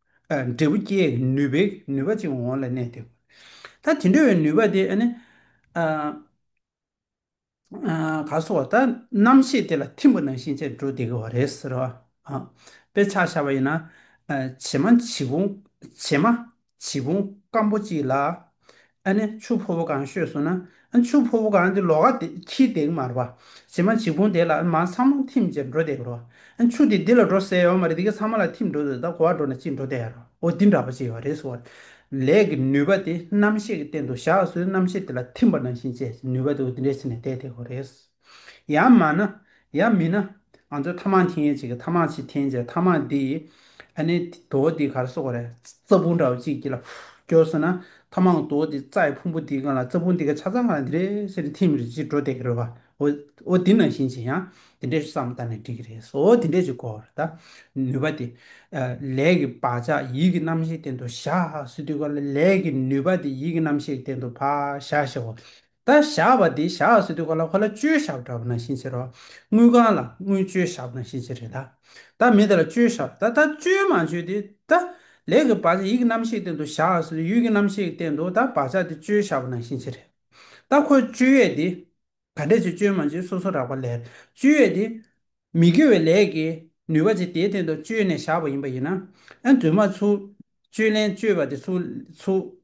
འབྲས་བུ་སྐྱེ་བའི་ནུས་པའི་ནུས་པ་ཅིག་འོང་བ་ལ་གནས་ཏེ། ད་དེ་འདྲ་བའི་ནུས་པ་དེ་ནི། ག་སོགས་བ་ད་རྣམ་ཤེས་དེ་ལ་ཐིམ་པ་ན་ཤེས་བྱའི་འབྲུ་དེ་གོ་བ་རེད་ཟེར་རོ། དཔེ་ཆ་བཞག་པ་ཡིན་ན། བྱེ་མ་བྱེ་ཕུང་བྱེ་མ་བྱེ་ཕུང་སྐམ་པོ་གཅིག་ལ། ཨ་ནི་ཆུ་ཕོ་བོ་གང་ཤོད་སོང་ན་ཨ་ཆུ་ཕོ་བོ་གང་དེ་ལོག་ཨ་དེ་ཁྱི་བདེག་མར་བ་བྱེ་མ་བྱེ་གུང་དེ་ལ་ཨ་མ་ཚང་མ་འཐིམ་བྱེར་འགྲོ་བསྡད་རོ་ཨ་ཆུ་དེ་འདི་ལ་འགྲོ་ཟེར་ཡོད་མ་རེད་དེ་ག་ཚང་མ་ལ་འཐིམ་འགྲོ་ཟེར་ད་གོ་བ་འགྲོ་ན་ཅི་འགྲོ་བསྡད་རོ་འོ་འདི་འདྲ་པོ་བྱེད་ཡོད་རེད་ཟེར་བ། ལས་ཀྱི་ནུས་པ་དེ་རྣམ་ཤེས་ཀྱི་སྟེང་དུ་བཞག་སོས་རྣམ་ཤེས་དེ་ལ་འཐིམ་པ་ནང་བཞིན་བྱས་ནུས་པ་དེ་འོ་འདི་འདྲ་བྱས་ནས་བསྡད་བསྡད་གོ་རེད། ཡང་མ་ན། ཡང་མི་ན། ང་ཚོས་ཐ་མག་འཐེན་མཁན་གཅིག་གིས་ཐ་མག་ཅིག་འཐེན་རྗེས་ཐ་མག་འདི་ཡིས་ཨ་ནེ་དོ་འདི་གར་སོག་གོ་རེ། རྩྭ་ཕུང་འདྲ་བ་གཅིག་གྱིས་ལ་ཀྱོ་ཟེར་ན་ཐ་མག་དོ་འདི་རྩྭའི་ཕུང་པོ་འདི་གང་ལ་རྩྭ་ཕུང་འདི་ག་ཆ་ཚང་གང་ལ་འདི་རེད་ཟེར་ཏེ་འཐེན་མི་རེ་ཅིག་འགྲོ་བསྡད་ཀྱི་རེད་བ། འོ་འདི་ནང་བཞིན་བྱས་ཡང་འདི་འདྲས་སུ་བསམ་བཏང་ནས་འགྲིག་གི་རེད་ཟོ་འོ་འདི་འདྲས་ཅིག་གོ་ད་ནུས་པ་དེ། ལས་ཀྱི་བག་ཆགས་ཡིད་ཀྱི་རྣམ་ཤེས་སྟེང་དུ་བཞག་ཟེར་དུས་ཀ་ལས་ཀྱི་ནུས་པ་དེ་ཡིད་ཀྱི་རྣམ་ཤེས་སྟེང་དུ་བཞག་ཞེ་བ། ད་བཞག་པ་དེ་བཞག་སྲོལ་དུས་ག་ལ་ག་ལ་བཅོལ་བཞག་འདྲ་པོ་ནང་བཞིན་བྱེད་རོགས། དངུལ་ཁང་ལ་དངུལ་བཅོལ་བཞག་ནང་བཞིན་བྱེད་རེད་ད། ད་མི་དེ་ལ་བཅོལ་བཞག་ད་ད་བཅོལ་མ་བཅོལ་དེ་ད། ལས་ཀྱི་བག་ཆགས་ཡིད་ཀྱི་རྣམ་ཤེས་སྟེང་དུ་བཞག་སྲོལ་དུས་ཡུལ་གྱི་རྣམ་ཤེས་སྟེང་དུ་ད་བག་ཆགས་དེ་བཅོལ་བཞག་པ་ནང་བཞིན་བྱེད་རེད་ད། ཁོས་བཅོལ་ཡས་དེ། ག་འདྲས་ཆོད་བཅོལ་མ་བཅོལ་སོ་སོ་རགས་པ་ལས་བཅོལ་ཡས་དེ། མི་དགེ་བའི་ལས་ཀྱི་ནུས་པ་ཅིག་དེའི་སྟེང་དུ་བཅོལ་ནས་བཞག་པ་ཡིན་པ་ཡིན་ན། ཨེ། རྫུན་མ་ཚུགས། བཅོལ་ལན་བཅོལ་བ་དེ་ཚུགས།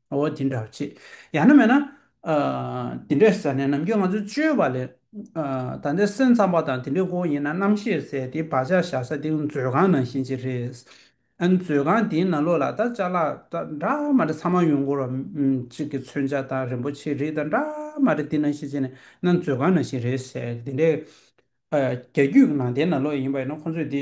ངོ་བོ་དེ་འདྲ་བ་ཆེ། ཡང་ན་མེད་ན། དེ་འདྲའི་ཟེར་ནས་ནམ་རྒྱུན་ང་ཚོས་སྤྱོད་པ་ལས། ད་ལྟའི་སེམས་ཙམ་པ་དང་དེ་འདྲའི་སྐོར་ཡིན་ན་རྣམ་ཤེས་ཟེར་ཏེ་བག་ཆགས་བཞག་ས་དེ་མཛོད་ཁང་ནང་བཞིན་ཅིག་རེད། མཛོད་ཁང་དེའི་ནང་ལོགས་ལ་ད་ལྟ་ལྕགས་ལ་འདྲ་མ་འདྲ་ཚང་མ་ཡོང་སྐོར་བ་གཅིག་གིས་མཚོན་ཆ་དང་རིན་པོ་ཆེའི་རིགས་དང་འདྲ་མ་འདྲ་དེ་ནང་བཞིན་བྱས་ནས་ན་མཛོད་ཁང་ནང་བཞིན་རེད་ཟེར། དེ་འདྲའི། རྒྱ་རྒྱུད་ནང་བསྟན་ནང་ལོགས་ཡིན་པ་ཡིན་ན་ཁོ་ཚོས་དེ།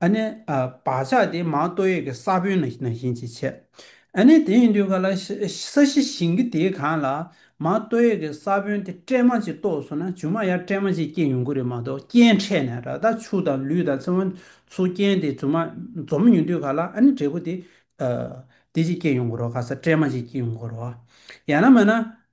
ཨ་ནི། བག་ཆགས་དེ་མ་གཏོགས་ཡོད་ཀྱི་ས་བོན་ནང་བཞིན་གྱིས་བྱས། ཨ་ནི། དེ་ཡིན་དུས་ག་ལ། ས་གཞི་བཞིན་གྱི་དེ་གང་ལ། མ་གཏོགས་ཡོད་ཀྱི་ས་བོན་དེ་སྤྲད་མ་ཅིག་གཏོགས་སོང་ན་ཇུ་མ་ཡར་སྤྲད་མ་ཅིག་སྐྱེ་ཡོང་གི་རེད་མ་གཏོགས་སྐྱེ་འཕྲད་ནས་ར་དང་ཆུ་དང་ལུད་དང་ཚེར་བ་ཚུར་སྐྱེས་དེ་ཇུ་མ་འཛོམས་ཡོང་དུས་ག་ལ་ཨ་ནི་འབྲས་བུ་དེ། དེ་ཅིག་སྐྱེ་ཡོང་གི་རོགས་ག་ས་སྤྲད་མ་ཅིག་སྐྱེ་ཡོང་གི་རོགས། ཡང་ན་མ་ན།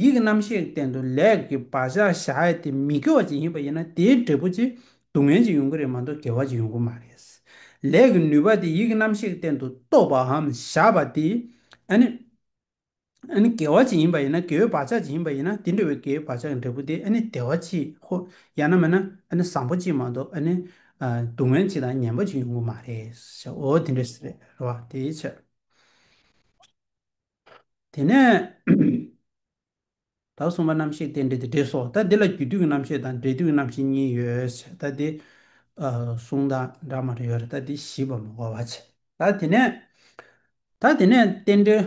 ཡིད་ཀྱི་རྣམ་ཤེས་ཀྱི་སྟེང་དུ་ལས་ཀྱི་བག་ཆགས་བཞག་ཡས་དེ་མི་དགེ་བ་ཅན་ཡིན་པ་ཡིན་ན་དེའི་འབྲས་བུ་ཚེ་སྡུག་བསྔལ་གྱི་ཡོང་གི་རེད་མ་གཏོགས་དགེ་བ་གྱི་ཡོང་གི་མ་རེད། ལས་ཀྱི་ནུས་པ་དེ་ཡིད་ཀྱི་རྣམ་ཤེས་ཀྱི་སྟེང་དུ་རྟོགས་པའམ་བཞག་པ་དེ་ནི་དགེ་བ་ཅན་ཡིན་པ་ཡིན་ན་དགེ་བའི་བག་ཆགས་ཅན་ཡིན་པ་ཡིན་ན་དེ་འདྲ་བའི་དགེ་བའི་བག་ཆགས་ཀྱི་འབྲས་བུ་དེ་ནི་བདེ་བ་ཅི་ཧོ་ཡང་ན་མེད་ན་བཟང་པོ་ཅི་མ་གཏོགས་སྡུག་བསྔལ་ཅི་དང་ངན་པ་ཅི་ཡོང་གི་མ་རེད། འོ་དེ་འདྲ་རེད་བ་དེའི་ཕྱིར། དེ་ནས་ད་གསུངས་པ་རྣམ་ཤེས་རྟེན་འབྲེལ་དེ་འབྲེལ་སོགས་ད་འདི་ལ་རྒྱུ་དུས་ཀྱི་རྣམ་ཤེས་དང་འབྲས་དུས་ཀྱི་རྣམ་ཤེས་གཉིས་ཡོད་བྱས་ད་འདི་གསུངས་ད་འདྲ་མ་འདྲ་ཡོད་རེད་ད་འདི་ཞིབ་པར་མ་གོ་བར་བྱས་ད་དེ་ནས་ད་དེ་ནས་རྟེན་འབྲེལ་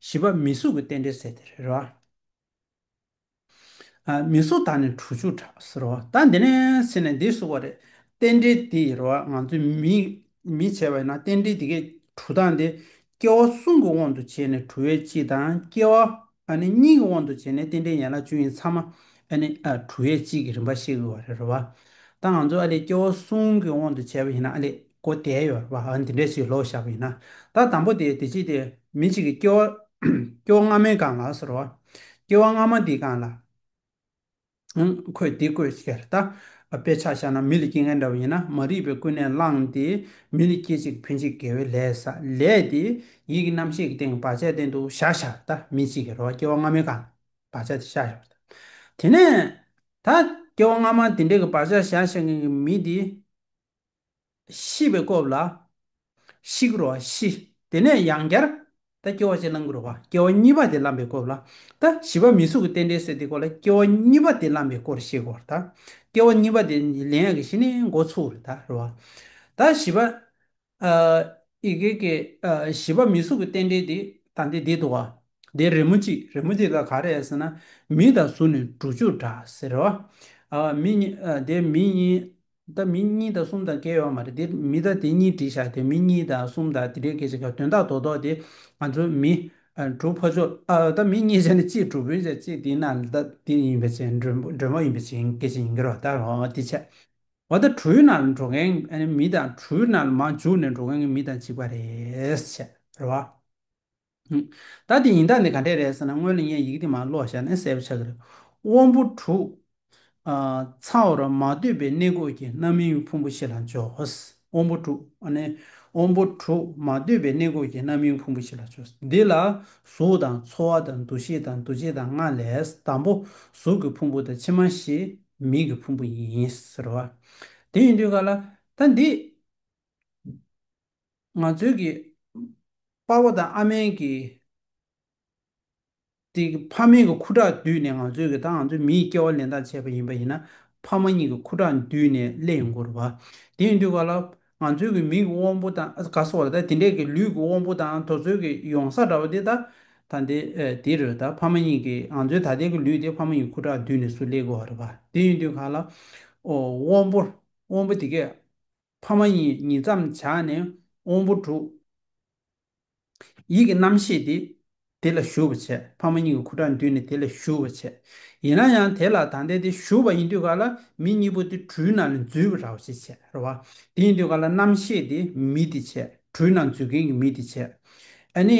བཞི་པ་མི་གཟུགས་ཀྱི་རྟེན་འབྲེལ་ཟེར་དེ་རེད་རེད་བ། མི་གཟུགས་དག་ནི་གྲུ་ཆུ་གྲགས་ཟེར་རོ། ད་འདི་ནས་ཟེར་ནས་འདི་གསུང་བ་རེད། རྟེན་འབྲེལ་འདི་རེད་བ་ང་ཚོས་མི་བྱེད་པ་ཡིན་ན་རྟེན་འབྲེལ་འདི་གས་གྲུ་དང་འདི་སྐྱེ་བ་གསུམ་གྱི་དབང་དུ་བྱས་ནས་གྲུ་བས་སྤྱི་དང་སྐྱེ་བ་ཨ་ནི་གཉིས་ཀྱི་དབང་དུ་བྱས་ནས་རྟེན་འབྲེལ་ཡན་ལག་བཅུ་ཡིན་ཚང་མ་ཨ་ནི་གྲུ་བས་སྤྱི་གི་རིམ་པ་ཤེས་དགོས་བ་རེད་བ། ད་ང་ཚོས་ཨ་ལས་སྐྱེ་བ་གསུམ་གྱི་དབང་དུ་བྱས་པ་ཡིན་ན་ཨ་ལས་གོ་བདེ་ཡོད་རེད་བ། འདི་འདྲའི་ཞིག་ལོག་བཞག་པ་ཡིན་ན། ད་དང་པོ་དེ་དེ་ཅི་དེ་མི་གཅིག་གི་སྐྱོ་བ། སྐྱོ་བ་སྔ་མའི་སྒང་ལ་ཟེར་རོ། སྐྱོ་བ་སྔ་མ་འདིའི་སྒང་ལ། ཨང། ཁོས་འདི་བཀོད་ཁྱེར་ལྟ། དཔེ་ཆ་བཞག་ན་མི་ལ་སྐྱེ་མཁན་འདྲ་བ་ཡིན་ན་མ་རིག་པའི་ཀུན་ནས་བསླངས་ཏེ་མི་ལ་སྐྱེ་ཅིག་ཕུད་ཅིག་དགེ་བའི་ལས་ས་ལས་དེ་ཡིད་ཀྱི་རྣམ་ཤེས་ཀྱི་སྟེང་བག་ཆགས་སྟེང་དུ་བཞག་བཞག་ལྟ་མི་གཅིག་གི་རོ་སྐྱེ་བ་སྔ་མའི་སྒང་ལ་བག་ཆགས་དེ་བཞག་བཞག་ལྟ། དེ་ནས། ད། སྐྱེ་བ་སྔ་མ་དེ་འདྲའི་གི་བག་ཆགས་བཞག་བཞག་མཁན་གྱི་མི་དེ། ཤི་བའི་སྐོབ་ལ། ཤིག་རོ་ཤི། དེ་ནས་ཡང་བསྐྱར། ད་སྐྱེ་བ་གཅིག་བླངས་དགུ་རུ་བ། སྐྱེ་བ་གཉིས་པ་དེ་བླངས་པའི་སྐོབ་ལ། ད་བཞི་པ་མི་སུ་གི་རྟེན་འབྲེལ་སྲོལ་དེ་སྐོར་ལ་སྐྱེ་བ་གཉིས་པ་དེ་བླངས་པའི་སྐོར་ཤེས་དགོ། ད་སྐྱེ་བ་གཉིས་པ་དེ་ལན་ཡག་གི་ཤི་ནས་མགོ་ཚུགས་རུ་ད་རུ་བ། ད་བཞི་པ། ཨི་གེ་གེ། བཞི་པ་མི་སུ་གི་རྟེན་འབྲེལ་དེ་ད་འདི་འདི་དུ་བ། དེ་རི་མོ་གཅིག་རི་མོ་དེ་ད་ག་རེད་ཟེར་ན། མི་ད་ཟུར་ནས་འབྲུ་བཅུ་འདྲ་ཟེར་རུ་བ། མི་གཉིས་དེ་མི་གཉིས། ད་མི་གཉིས་དང་གསུམ་དང་བརྒལ་ཡོད་མ་རེད་དེ་མི་ད་དེ་གཉིས་བྲིས་བཞག་དེ་མི་གཉིས་དང་གསུམ་དང་དེ་འདྲའི་སྐད་ཆ་དོན་དག་དོ་དོག་དེ་ང་ཚོ་མི། དྲུག་ཕ་ཚོ་ཨ་ད་མི་གཉིས་བྱས་ནས་གཅིག་དྲུག་བུན་བྱས་གཅིག་དེ་ན་ད་དེ་ཡིན་པའི་ཕྱིན་འགྲོན་འགྲོན་པོ་ཡིན་པའི་ཕྱིན་སྐད་ཆ་ཡིན་གི་རོ་ད་ཧོ་དེ་ཆད་འོ་ད་གྲུའི་ནང་ལ་འགྲོ་མཁན་མི་དང་གྲུའི་ནང་ལ་མ་འཇུག་ནས་འགྲོ་མཁན་གྱི་མི་དང་གཅིག་པ་རེད་ཆད་རོ། ད་དེ་ཡིན་དག་ནི་ག་འདྲས་རེད་ཟེར་ན་སྔོན་ལ་ངས་ཡི་གེ་དེ་མ་ཀློག་ཤག་ནས་གསལ་པོ་ཆགས་ཀྱི་རེད། དབང་པོ་དྲུག། ཚ་བོ་ར་མ་འདོད་པའི་གནས་འགོག་གི་རྣམ་སྨིན་ཕུང་པོ་ཞིག་ལ་འཇོག། དབང་པོ་དྲུག། དབང་པོ་དྲུག་མ་འདོད་པའི་གནས་འགོག་གི་རྣམ་སྨིན་ཕུང་པོ་ཞིག་ལ་འཇོག། འདི་ལ་གཟུགས་དང་ཚོར་བ་དང་འདུ་ཤེས་དང་འདུ་བྱེད་དང་ལྔ་ལས་དང་པོ་གཟུགས་ཀྱི་ཕུང་པོ་དང་ཕྱི་མ་ཞེས་མིག་གི་ཕུང་པོ་ཡིན། ཟེར་བ་དེ་ཡིན་དུས་ག་ལ། ད་འདི། ང་ཚོའི་གི། དཔའ་བོ་དང་ཨ་མའི་གི། དེ་གི་ཕ་མེས་གི་ཁུ་ཁྲག་བསྡུས་ནས་ང་ཚོའི་གི་ད་ང་ཚོའི་མི་ཡི་སྐྱེ་བ་ལེན་སྟངས་བྱས་པ་ཡིན་པ་ཡིན་ན་ཕ་མ་གཉིས་གི་ཁུ་ཁྲག་བསྡུས་ནས་ཀླད་ཡིན་སྐོར་བ། དེ་ཡིན་དུས་ག་ལ། ང་ཚོའི་གི་མིག་གི་དབང་པོ་དང་ག་སོགས་ལ་ད་དེ་འདྲའི་གི་ལུས་གི་དབང་པོ་དང་དོ་ཚོལ་གི་ཡོང་ས་འདྲ་བ་དེ་ད། ད་འདི་དེ་རུ་ད་ཕ་མ་གཉིས་གི་ང་ཚོའི་ད་ལྟའི་གི་ལུས་དེ་ཕ་མ་གཉིས་ཁུ་ཁྲག་བསྡུས་ནས་སུ་ཀླད་དགོས་བ་རེད་བ། དེ་ཡིན་དུས་ག་ལ། དབང་པོ་དབང་པོ་དེ་གས། ཕ་མ་གཉིས་ཉིད་མཚམས་བྱ་ནས་དབང་པོ་དྲུག། ཡིད་ཀྱི་རྣམ་ཤེས་དེ་དེ་ལ་ཞུ་བར་བྱེད། ཕ་མ་གཉིས་ཀྱི་ཁུ་ཁྲག་འདུས་ནས་དེ་ལ་ཞུ་བར་བྱེད། ཡིན་ན་ཡང་དེ་ལ་ད་ལྟའི་དེ་ཞུ་བ་ཡིན་དུས་ག་ལ་མི་གཉིས་པོ་དེ་གྲུའི་ནང་ནས་འཛུལ་བའི་ར་བ་ཞིག་བྱེད། ར་བ་དེ་ཡིན་དུས་ག་ལ་རྣམ་ཤེས་དེ་མི་དེ་བྱེད། གྲུའི་ནང་འཛུལ་མཁན་གྱི་མི་དེ་བྱེད། ཨ་ནི།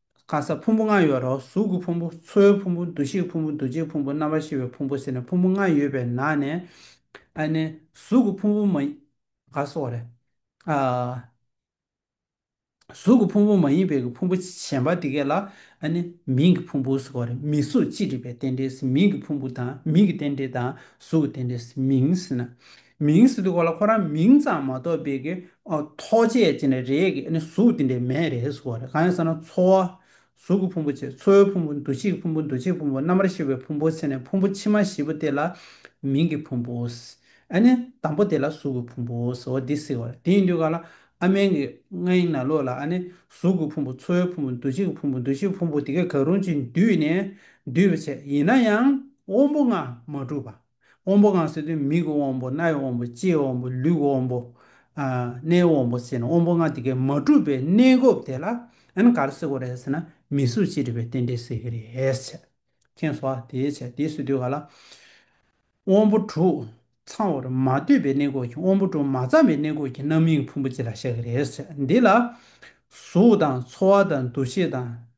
ཁ་ས་ཕུང་པོ་ལྔ་ཡོད་རོ་གཟུགས་ཀྱི་ཕུང་པོ་ཚོའི་ཕུང་པོ་འདུ་ཤེས་ཀྱི་ཕུང་པོ་འདུ་བྱེད་ཕུང་པོ་རྣམ་པར་ཤེས་པའི་ཕུང་པོ་ཟེར་ནས་ཕུང་པོ་ལྔ་ཡོད་པའི་ནང་ནས་ཨ་ནི་གཟུགས་ཀྱི་ཕུང་པོ་མ་ཡིན་ག་སོགས་རེད། ཨ། གཟུགས་ཀྱི་ཕུང་པོ་མ་ཡིན་པའི་ཀྱི་ཕུང་པོ་གཞན་པ་དེ་གས་ལ་ཨ་ནི་མིང་གི་ཕུང་པོ་ཟེར་བ་རེད་མིང་གཟུགས་ཅི་རིགས་པའི་རྟེན་འབྲེལ་ཟིན་མིང་གི་ཕུང་པོ་དང་མིང་གི་རྟེན་འབྲེལ་དང་གཟུགས་ཀྱི་རྟེན་འབྲེལ་ཟིན་མིང་ཟེར་ན། མིང་སྲིད་གོ་ལ་ཁོ་རང་མིང་ཙམ་མ་གཏོགས་པའི་གི་ཐོགས་བཅས་ཅི་འདྲ་རེད་གི་ཨ་ནི་གཟུགས་དེ་འདྲའི་མེད་རེད་ཟེར་བ་རེད་གང་ཡིན་ཟེར་ན་འཚོ་བ། གཟུགས་ཀྱི་ཕུང་པོ་བྱེད་འཚོའི་ཕུང་པོ་འདུ་བྱེད་ཀྱི་ཕུང་པོ་འདུ་བྱེད་ཀྱི་ཕུང་པོ་རྣམ་པར་ཤེས་པའི་ཕུང་པོ་ཟེར་ནས་ཕུང་པོ་ཕྱི་མ་བཞི་པོ་དེ་ལ་མིང་གི་ཕུང་པོ། ཨ་ནི་དང་པོ་དེ་ལ་གཟུགས་ཀྱི་ཕུང་པོ་ཟེར་བ་འདི་སྲིད་བ་རེད་དེ་ཡིན་དུས་ག་ལ་ཨ་མན་གི་ངའི་ན་ལོ་ལ་ཨ་ནི་གཟུགས་ཀྱི་ཕུང་པོ་འཚོའི་ཕུང་པོ་འདུ་བྱེད་ཀྱི་ཕུང་པོ་འདུ་བྱེད་ཀྱི་ཕུང་པོ་དེ་གས་ག་རུང་ཅིག་འདུས་ནས་འདུས་པ་བྱས་ཡིན་ན་ཡང་དབང་པོ་ལྔ་མ་གྲུབ་པ། དབང་པོ་གང་ཟེར་དུས་མིག་གི་དབང་པོ་རྣ་བའི་དབང་པོ་ལྕེའི་དབང་པོ་ལུས་ཀྱི་དབང་པོ། སྣའི་དབང་པོ་ཟེར་ནས་དབང་པོ་ལྔ་དེ་གས་མ་གྲུབ་པའི་གནས་སྐབས་དེ་ལ་ཨན་ག་རེ་ཟེར་དགོས་རེད་ཟེར་ན་མི་གཟུགས་ཅི་རིགས་པའི་རྟེན་འབྲེལ་ཟེར་གྱི་རེད། མཁྱེན་སོ། དེའི་ཕྱིར་དེ་ཟེར་དུས་ག་ལ། དབང་པོ་དྲུག་ཚང་བར་མ་ལྟོས་པའི་གནས་སྐབས་ཀྱི་དབང་པོ་དྲུག་མ་ཚང་བའི་གནས་སྐབས་ཀྱི་རྣམ་སྨིན་གྱི་ཕུང་པོ་ཅི་ལ་བཞག་གི་རེད། འདི་ལ། གཟུགས་དང་ཚོར་བ་དང་འདུ་ཤེས་དང།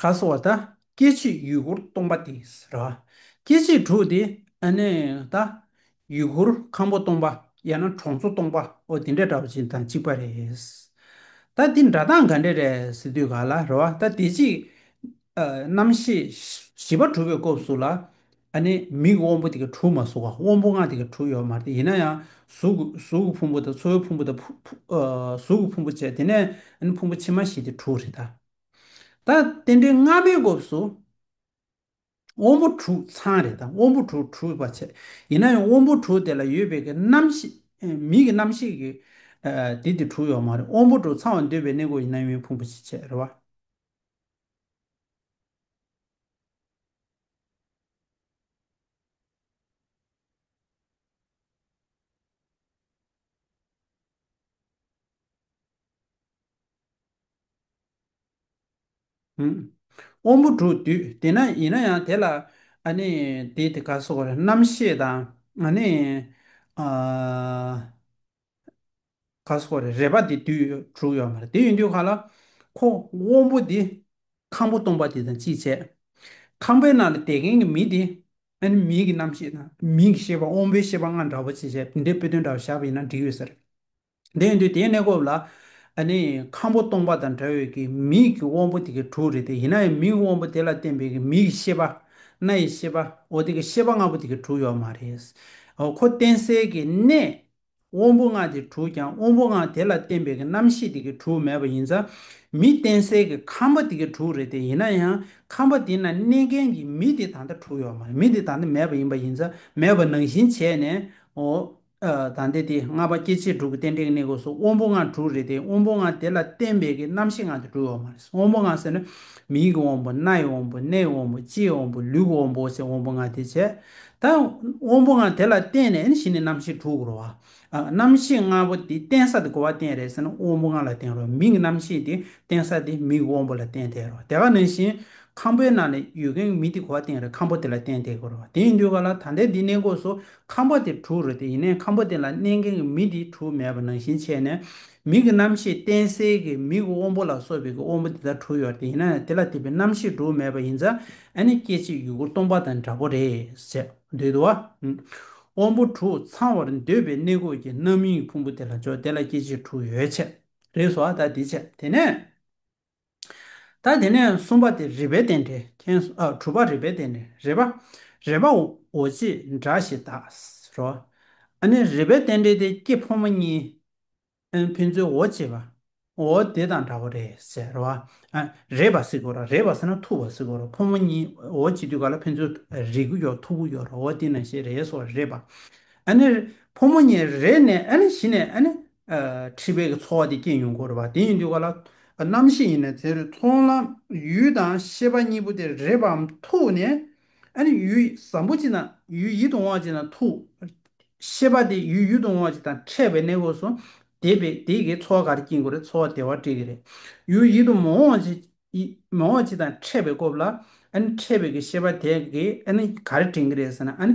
ག་སོ་བ་དང་སྐྱེ་མཆེད་ཡུལ་འཁོར་སྟོང་པ་དེ་ར། སྐྱེ་མཆེད་དྲུག་དེ་ནི་དང། ཡུལ་འཁོར་ཁམ་བུ་སྟོང་པ་ཡང་ན་གྲོང་ཚོ་སྟོང་པ་འོ་དེ་འདྲ་འདྲ་བ་ཅིག་དང་གཅིག་པ་རེད། ད་དེ་འདྲ་དང་ག་འདྲ་རེད་ཟེར་དུས་ག་ལ་རེད་བ་ད་དེ་ཅིག། རྣམ་ཤེས་བཞི་པ་གྲུབ་པའི་སྐོབས་སུ་ལ། ཨ་ནི་མིག་གི་དབང་པོ་དེ་གའི་དྲུག་མ་གཟུགས་ཀ་དབང་པོ་ལྔ་དེ་གའི་དྲུག་ཡོད་མ་རེད་ཡིན་ན་ཡང་གཟུགས་གཟུགས་ཀྱི་ཕུང་པོ་དང་ཚོར་བའི་ཕུང་པོ་དང་གཟུགས་ཀྱི་ཕུང་པོ་བཅས་དེ་ནས་ཨ་ནི་ཕུང་པོ་ཕྱི་མ་བཞི་དེ་དྲུག་རེད་ད། ད་རྟེན་འབྲེལ་སྔ་མའི་སྐབས་སུ་དབང་པོ་དྲུག་ཚང་རེད་ད་དབང་པོ་དྲུག་དྲུག་པ་བྱས་ཡིན་ན་ཡང་དབང་པོ་དྲུག་དེ་ལ་ཡོད་པའི་གའི་རྣམ་ཤེས་མིག་གི་རྣམ་ཤེས་ཀྱི་དེ་དེ་དྲུག་ཡོད་མ་རེད་དབང་པོ་དྲུག་ཚང་བ་འདོད་པའི་གནས་སྐོར་ཡིན་ན་ཡང་ཕུང་པོ་བཞི་བྱས་རེད་བ། དབང་པོ་དྲུག་སྡུད་དེ་ན་ཡིན་ན་ཡང་དེ་ལ་དེ་དེ་ག་སོགས་རྣམ་ཤེས་དང། ག་སོགས་རེད་རེད་པ་དེ་དུས་དྲུག་ཡོད་མ་རེད་དེ་ཡིན་དུས་ག་ལ་ཁོ་དབང་པོ་དེ་ཁང་པོ་སྟོང་པ་དེ་དང་ཅི་བྱེད་ཁང་པའི་ནང་ལ་བསྡད་མཁན་གྱི་མི་དེ་ཨ་ནི་མིའི་གྱི་རྣམ་ཤེས་དང་མིའི་གྱི་ཤེས་པ་དབང་པོའི་ཤེས་པ་ལྔ་འདྲ་བོ་ཅི་བྱེད་དེ་འདྲའི་དཔེ་དོན་འདྲ་བོ་བཞག་པ་ཡིན་ན་འགྲིག་ཡོད་ས་རེད་དེ་ཡིན་དུས་དེའི་གནས་སྐབས་ལ་ཨ་ནི་ཁང་པོ་སྟོང་པ་དང་འདྲ་བའི་གྱི་མིའི་གྱི་དབང་པོ་དེ་གྱི་དྲུག་རེད་དེ་ཡིན་ན་ཡང་མིའི་དབང་པོ་དེ་ལ་བརྟེན་པའི་གྱི་མིའི་གྱི་ཤེས་པ་སྣའི་ཤེས་པའོ་དེ་གྱི་ཤེས་པ་ལྔ་པོ་དེ་གྱི་དྲུག་ཡོད་མ་རེད་ཨོ་ཁོ་བསྟེན་སའི་གྱི་གནས་དབང་པོ་ལྔ་དེ་དྲུག་ཀྱང་དབང་པོ་ལྔ་དེ་ལ་བརྟེན་པའི་གི་རྣམ་ཤེས་དེ་གི་དྲུག་མེད་པ་ཡིན་ཙང་མི་བརྟེན་གསལ་གི་ཁམས་པ་དེ་གི་དྲུག་རེད་དེ་ཡིན་ན་ཡང་ཁམས་པ་དེ་ན་གནས་མཁན་གི་མི་དེ་ད་ལྟ་དྲུག་ཡོད་མ་རེད་མི་དེ་ད་ལྟ་མེད་པ་ཡིན་པ་ཡིན་ཙང་མེད་པ་ནང་བཞིན་བྱས་ནས་འོ་ད་ལྟ་དེ་ལྔ་པ་སྐྱེ་མཆེད་དྲུག་གི་རྟེན་འབྲེལ་གི་གནས་སྒོས་སུ་དབང་པོ་ལྔ་དྲུག་རེད་དེ་དབང་པོ་ལྔ་དེ་ལ་བརྟེན་པའི་གི་རྣམ་ཤེས་ལྔ་དེ་དྲུག་ཡོད་མ་རེད་དབང་པོ་ལྔ་ཟེར་ན་མིག་གི་དབང་པོ་སྣ་ཡི་དབང་པོ་སྣའི་དབང་པོ་ལྕེའི་དབང་པོ་ལུས་ཀི་དབང་པོ་ཟེར་དབང་པོ་ལྔ་དེ་བྱས་ད་དབང་པོ་འང་དེ་ལ་བརྟེན་ནས་ནི་ཞི་ནི་རྣམ་ཤེས་དྲུག་རོ། རྣམ་ཤེས་ལྔ་པོ་དེ་རྟེན་ས་དེ་གོ་བ་རྟེན་རེད་ཟེར་ན་དབང་པོ་ལྔ་ལ་བརྟེན་རོ། མིག་རྣམ་ཤེས་དེ་རྟེན་ས་དེ་མིག་དབང་པོ་ལ་བརྟེན་ཐལ་རོ། དེ་ག་ནང་བཞིན་ཁམ་པོའི་ནང་ནས་ཡོད་མཁན་མི་དེ་གོ་བ་རྟེན་རེད་ཁམ་པོ་དེ་ལ་བརྟེན་ཐལ་གི་རོ། དེ་ཡིན་དུས་ག་ལ་ད་ལྟའི་འདི་གནས་འགོ་སོ་ཁམ་པོ་དེ་དྲུག་རོ་དེ་ཡིན་ནའི་ཁམ་པོ་དེ་ལ་གནས་མཁན་གི་མི་དེ་དྲུག་མེད་པ་ནང་བཞིན་ཆད་ནས་མིག་གི་རྣམ་ཤེས་རྟེན་སའི་གི་མིག་དབང་པོ་ལ་སོགས་པའི་གི་དབང་པོ་དེ་དག་དྲུག་ཡོད་དེ་ཡིན་ན་དེ་ལ་དེ་བས་རྣམ་ཤེས་དྲུག་མེད་པ་ཡིན་ཙང། ཨ་ནི་སྐད་ཅིག་ཡུ་གུར་སྟོང་པ་དང་འདྲ་པོ་རེད་ཟེར་འདོད་དོ། དབང་པོ་དྲུག་ཚང་བར་འདོད་པའི་གནས་གོས་ཀྱི་རྣམ་གཡེང་ཕུང་པོ་དེ་ལ་འཇོག་དེ་ལ་སྐད་ཅིག་དྲུག་ཡོད་ཆེད་རེད་བཟོ་ཨ་ད་དེ་བྱས་དེ་ནས། ད་དེ་ནས་གསུམ་པ་དེ་རིག་པའི་རྟེན་འབྲེལ་མཁྱེན་དྲུག་པ་རིག་པའི་རྟེན་འབྲེལ་རེད་པ། རེད་པ་འོ་ཅི་འདྲ་ཞིག་ད་རོ། ཨ་ནི་རིག་པའི་རྟེན་འབྲེལ་དེ་སྐྱེས་ཕོ་མོ་གཉིས། ཨང་ཕན་ཚུན་འོ་བྱེད་པ། འོ་དེ་དང་འདྲ་བོ་རེད་ཟེར་བ། རེད་པ་ཟེར་གོ་ར་རེད་པ་ཟེར་ན་ཐུག་པ་ཟེར་གོ་ར་ཕོ་མོ་གཉིས་འོ་བྱེད་དུས་ག་ལ་ཕན་ཚུན་རེད་གུ་ཡོག་ཐུག་གུ་ཡོག་ར་འོ་དེ་ན་ཞེས་རེད་སོ་རེད་པ། ཨ་ནི་ཕོ་མོ་གཉིས་རེད་ནས་ཨ་ནི་གཞི་ནས་ཨ་ནི་ཁྲི་བས་ཀྱི་འཚོ་བ་དེ་སྐྱེལ་ཡོང་གོ་ར་བ་དེ་ཡིན་དུས་ག་ལ་རྣམ་ཤེས་ཡིན་ན་ཟེར་ཚོང་ལམ་ཡུལ་དང་ཤེས་པ་གཉིས་པོ་དེ་རེད་པའམ་ཐུག་ནས་ཨ་ནི་ཡུལ་བཟང་པོ་ཅིག་ན་ཡུལ་ཡིད་དུ་འོང་བ་ཅིག་ན་ཐུག། ཤེས་པ་དེ་ཡུལ་ཡུལ་དུ་འོང་བ་ཅིག་དང་ཕྲད་པའི་གནས་སྒོས་སུ། དེ་བས་དེ་གའི་འཚོ་བ་ག་རེ་སྐྱེལ་དགོས་རེད་འཚོ་བ་བདེ་བ་སྤྲད་གི་རེད། ཡུལ་ཡིད་དུ་མི་འོང་བ་ཅིག་དང་ཕྲད་པའི་སྐོབས་ལ། ཨ་ནི་ཕྲད་པའི་གི་ཤེས་པ་དེ་གས་ཨ་ནི་ག་རེ་དྲན་གི་རེད་ཟེར་ན་ཨ་ནི་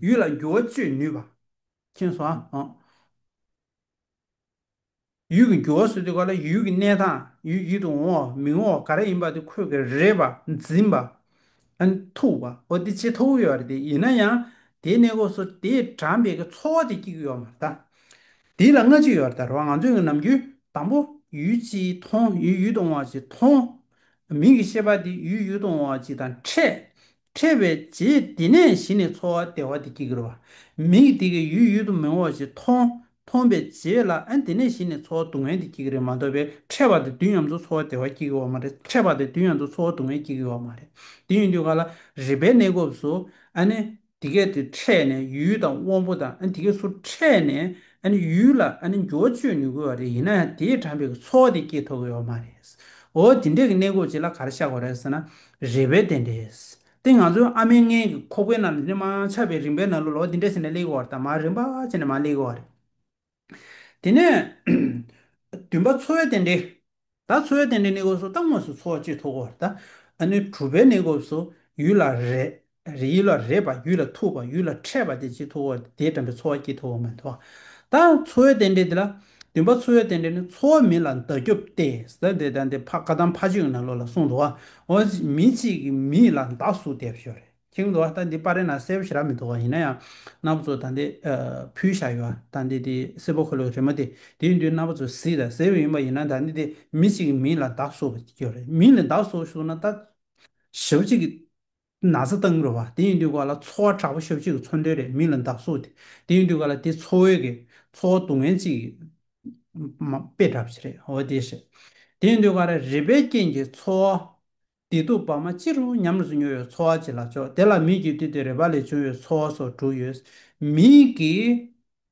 ཡུལ་ལ་འགྱུར་བ་གཅོད་ནུས་པ། མཁྱེན་སོ། ཡུལ་གྱི་འགྱུར་བ་སོ་དེ་ག་ལ་ཡུལ་གྱི་གནས་དང་ཡུལ་ཡིད་དུ་འོང་བའོ་མི་འོང་བ་ག་རེ་ཡིན་པ་དེ་ཁོད་ཀྱི་རེད་པ་འཛིན་པ། ཐུག་པ། འོ་དེ་ཅི་ཐུག་ཡོད་རེད་དེ་ཡིན་ན་ཡང་དེའི་གནས་སྐོར་སོ་དེས་དྲངས་པའི་གི་ཚོར་བ་དེ་སྐྱིད་ཡོད་མ་རེད། དེ་ལ་སྔ་ཕྱི་ཡོད་རེད་རེད་བ་ང་ཚོས་གི་ནམ་རྒྱུན་དང་པོ་ཡུལ་ཅིས་མཐོང་ཡུལ་ཡིད་དུ་འོང་བ་ཅིས་མཐོང། མིང་གི་ཤེས་པ་དེ་ཡུལ་ཡིད་དུ་འོང་བ་ཅིས་དང་ཕྲད། ཁྲེལ་བའི་རྗེས་འདི་ནས་གཞི་ནས་འཚོ་བ་བདེ་བ་དེ་སྐྱེ་གི་རོ། མིག་དེ་གིས་ཡུལ་ཡུལ་དུ་མི་འོང་བ་ཞིག་མཐོང། མཐོང་པའི་རྗེས་ལ་ཨ་འདི་ནས་གཞི་ནས་འཚོ་བ་སྡུག་བསྔལ་དེ་སྐྱེ་གི་རེད་མ་འདོད་པས་ཁྲེལ་བ་དེ་དུས་ཡམས་སུ་འཚོ་བ་བདེ་བ་སྐྱེ་གི་བ་མ་རེད་ཁྲེལ་བ་དེ་དུས་ཡམས་སུ་འཚོ་བ་སྡུག་བསྔལ་སྐྱེ་གི་བ་མ་རེད། དེ་ཡིན་དུས་ག་ལ་རིག་པའི་གནས་སྐབས་སུ་ཨ་ནི་འདི་སྐད་དུ་ཁྲེལ་ནས་ཡུལ་ཡུལ་དང་དབང་པོ་དང་ཨ་ནི་འདི་སྐད་སུ་ཁྲེལ་ནས་ཨ་ནི་ཡུལ་ཡུལ་ལ་ཨ་ནི་འགྱུར་བ་གཅོད་མྱི་དགོས་བ་རེད་ཡིན་ན་ཡང་དེས་དྲངས་པའི་གི་འཚོ་བ་དེ་སྐྱེ་ཐུབ་གི་བ་མ་རེད། འོ་འདི་འདྲའི་གི་གནས་སྐབས་ཅིག་ལ་ག་རེ་བཤགས་པ་རེད་ཟེར་ན་རེ་བའི་རྟེན་འབྲེལ། དེ་ང་ཚོའི་ཨ་མའི་མངལ་གྱི་ཁོག་པའི་ནང་དུ་ནི་མ་ཆགས་པའི་རིམ་པའི་ནང་ལོ་ལོ་དེ་འདྲས་ཟིན་ནས་གླེགས་བར་དང་མར་རིམ་པ་ཅན་ནས་མར་གླེགས་བར་རེད། དེ་ནས། བདུན་པ་འཚོ་བའི་རྟེན་འབྲེལ། ད་འཚོ་བའི་རྟེན་འབྲེལ་ནི་སྐབས་སུ་ལྟ་དངོས་སུ་འཚོ་བ་བཅུད་ཐོགས་བར་དང། དྲུག་པའི་ནི་སྐབས་སུ་ཡུལ་ལ་རེད། རེ་ཡུལ་ལ་རེ་བ་ཡུལ་ལ་ཐུག་པ་ཡུལ་ལ་འཕྲད་པ་དེ་ཅི་ཐུག་བོ་དེ་དྲན་པའི་ཚོར་བ་སྐྱིད་ཐུག་བོ་མི་ཐུག་ད་འཚོ་བའི་རྟེན་འབྲེལ་དེ་ལ་འདུན་པ་འཚོ་བའི་རྟེན་འབྲེལ་ནི་འཚོ་བ་མིན་ལ་མདའ་རྒྱོབ་སྟེ་ཟ་འདེད་ལྡང་འདེད་ཕ་དགའ་དང་ཕ་ཆོས་ནང་ལོག་ལ་སོང་འདུག་ཨོ་མི་གཅིག་གིས་མི་ལ་མདའ་ཟུག་འདེད་ཞོར་རེ་ཁེངས་འདུག་ད་འདི་པར་རེ་ན་གསལ་པོ་ཞིག་རག་མི་འདུག་ཡིན་ན་ཡང་རྣ་བ་ཚོ་ད་འདི་ཕུལ་བཞག་ཡོད་ད་འདི་དེ་སེར་པོ་ཁོ་ལོ་རེ་མོ་དེ་དེའི་མདུན་རྣ་བ་ཚོ་བཟི་དང་ཟེར་བ་ཡིན་པ་ཡིན་ན་ད་འདི་དེ་མི་གཅིག་གིས་མི་ལ་མདའ་ཟུག་ཞོར་རེ་མི་ལ་མདའ་ཟུག་ཞོར་ན་ད་ཞབས་གཅིག་གིས། ན་བཟའ་བཏང་མི་རུང་བ་དེ་ཡིན་དུས་ག་ལ་འཚོ་བ་དྲག་པོ་ཤོབ་ཅིག་གི་འཚོ་འདོད་རེད་མི་ལ་འདག་སོ་དེ་དེ་ཡིན་དུས་ག་ལ་དེ་འཚོ་འོས་གི་འཚོ་བ་སྡུག་བསྔལ་ཅིག་མ་དཔེ་གྲབ་ཅིག་རེད་འོ་དེ་ཞེས་དེ་ཡིན་དུས་ག་ལ་རིག་པའི་རྐྱེན་གྱི་འཚོ་བ་བདེ་སྡུག་བར་མ་ཅི་རུང་ཉམས་སུ་མྱོང་བའི་འཚོ་བ་ཅིག་ལ་ཅོག་དེ་ལ་མིག་གིས་བལྟས་དུས་རེ་བ་ལས་བྱུང་བའི་འཚོ་བ་སོགས་དྲུག་ཡོད་མིན་གྱི།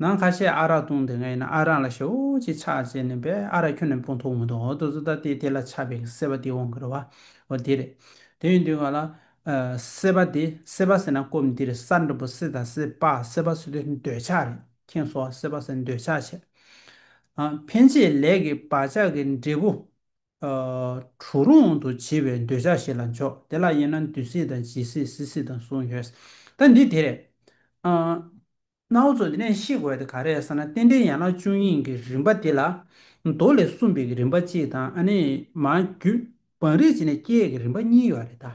ནང་ཁ་ཤས་ཨ་རག་བཏུང་དེ་ངས་ཡིན་ན་ཨ་རག་ལ་ཞོ་ཅིག་ཆག་ཅེས་ནས་པས་ཨ་རག་ཁྱོད་ནས་སྤོ་འཐུང་མི་འདུག་ཨོ་ཏོ་ཏོ་ད་ལྟའི་དེ་ལ་ཆག་པའི་གི་སྲེད་པ་དེ་འོང་གི་རེད་བ་འོ་དེ་རེད། དེ་ཡིན་དུས་ང་ལ། སྲེད་པ་དེ་སྲེད་པ་ཟེར་ན་སྐོམ་འདི་རེད་ས་འདྲ་པོ་སྲེད་དང་སྲེད་པ་སྲེད་པ་སྲེད་དུས་འདོད་ཆགས་རེད་ཁྱེད་ཚོ་སྲེད་པ་ཟེར་འདོད་ཆགས་བྱེད། ཕན་ཆད་ལས་ཀྱི་བག་ཆགས་ཀྱི་འབྲས་བུ། གྲུ་རོང་དུ་བྱིས་པའི་འདོད་ཆགས་ཤིག་ལ་འཇོག་དེ་ལ་དབྱེ་ན་འདུས་སྲི་དང་བྱིས་སྲི་སྲི་སྲི་དང་གསུམ་ཡོད། ད་འདི་དེ་རེད། གནའ་བོ་ཚོ་འདི་ནས་ཤེས་དགོས་དེ་ག་རེད་ཟེར་ན་རྟེན་འབྲེལ་ཡན་ལག་བཅུ་གཉིས་ཀྱི་རིམ་པ་དེ་ལ། མདོ་ལས་གསུངས་པའི་རིམ་པ་གཅིག་དང་ཨ་ནི་མ་རྒྱུད་བང་རིམ་བྱས་ནས་སྐྱེས་ཀྱི་རིམ་པ་གཉིས་ཡོད་རེད་ད།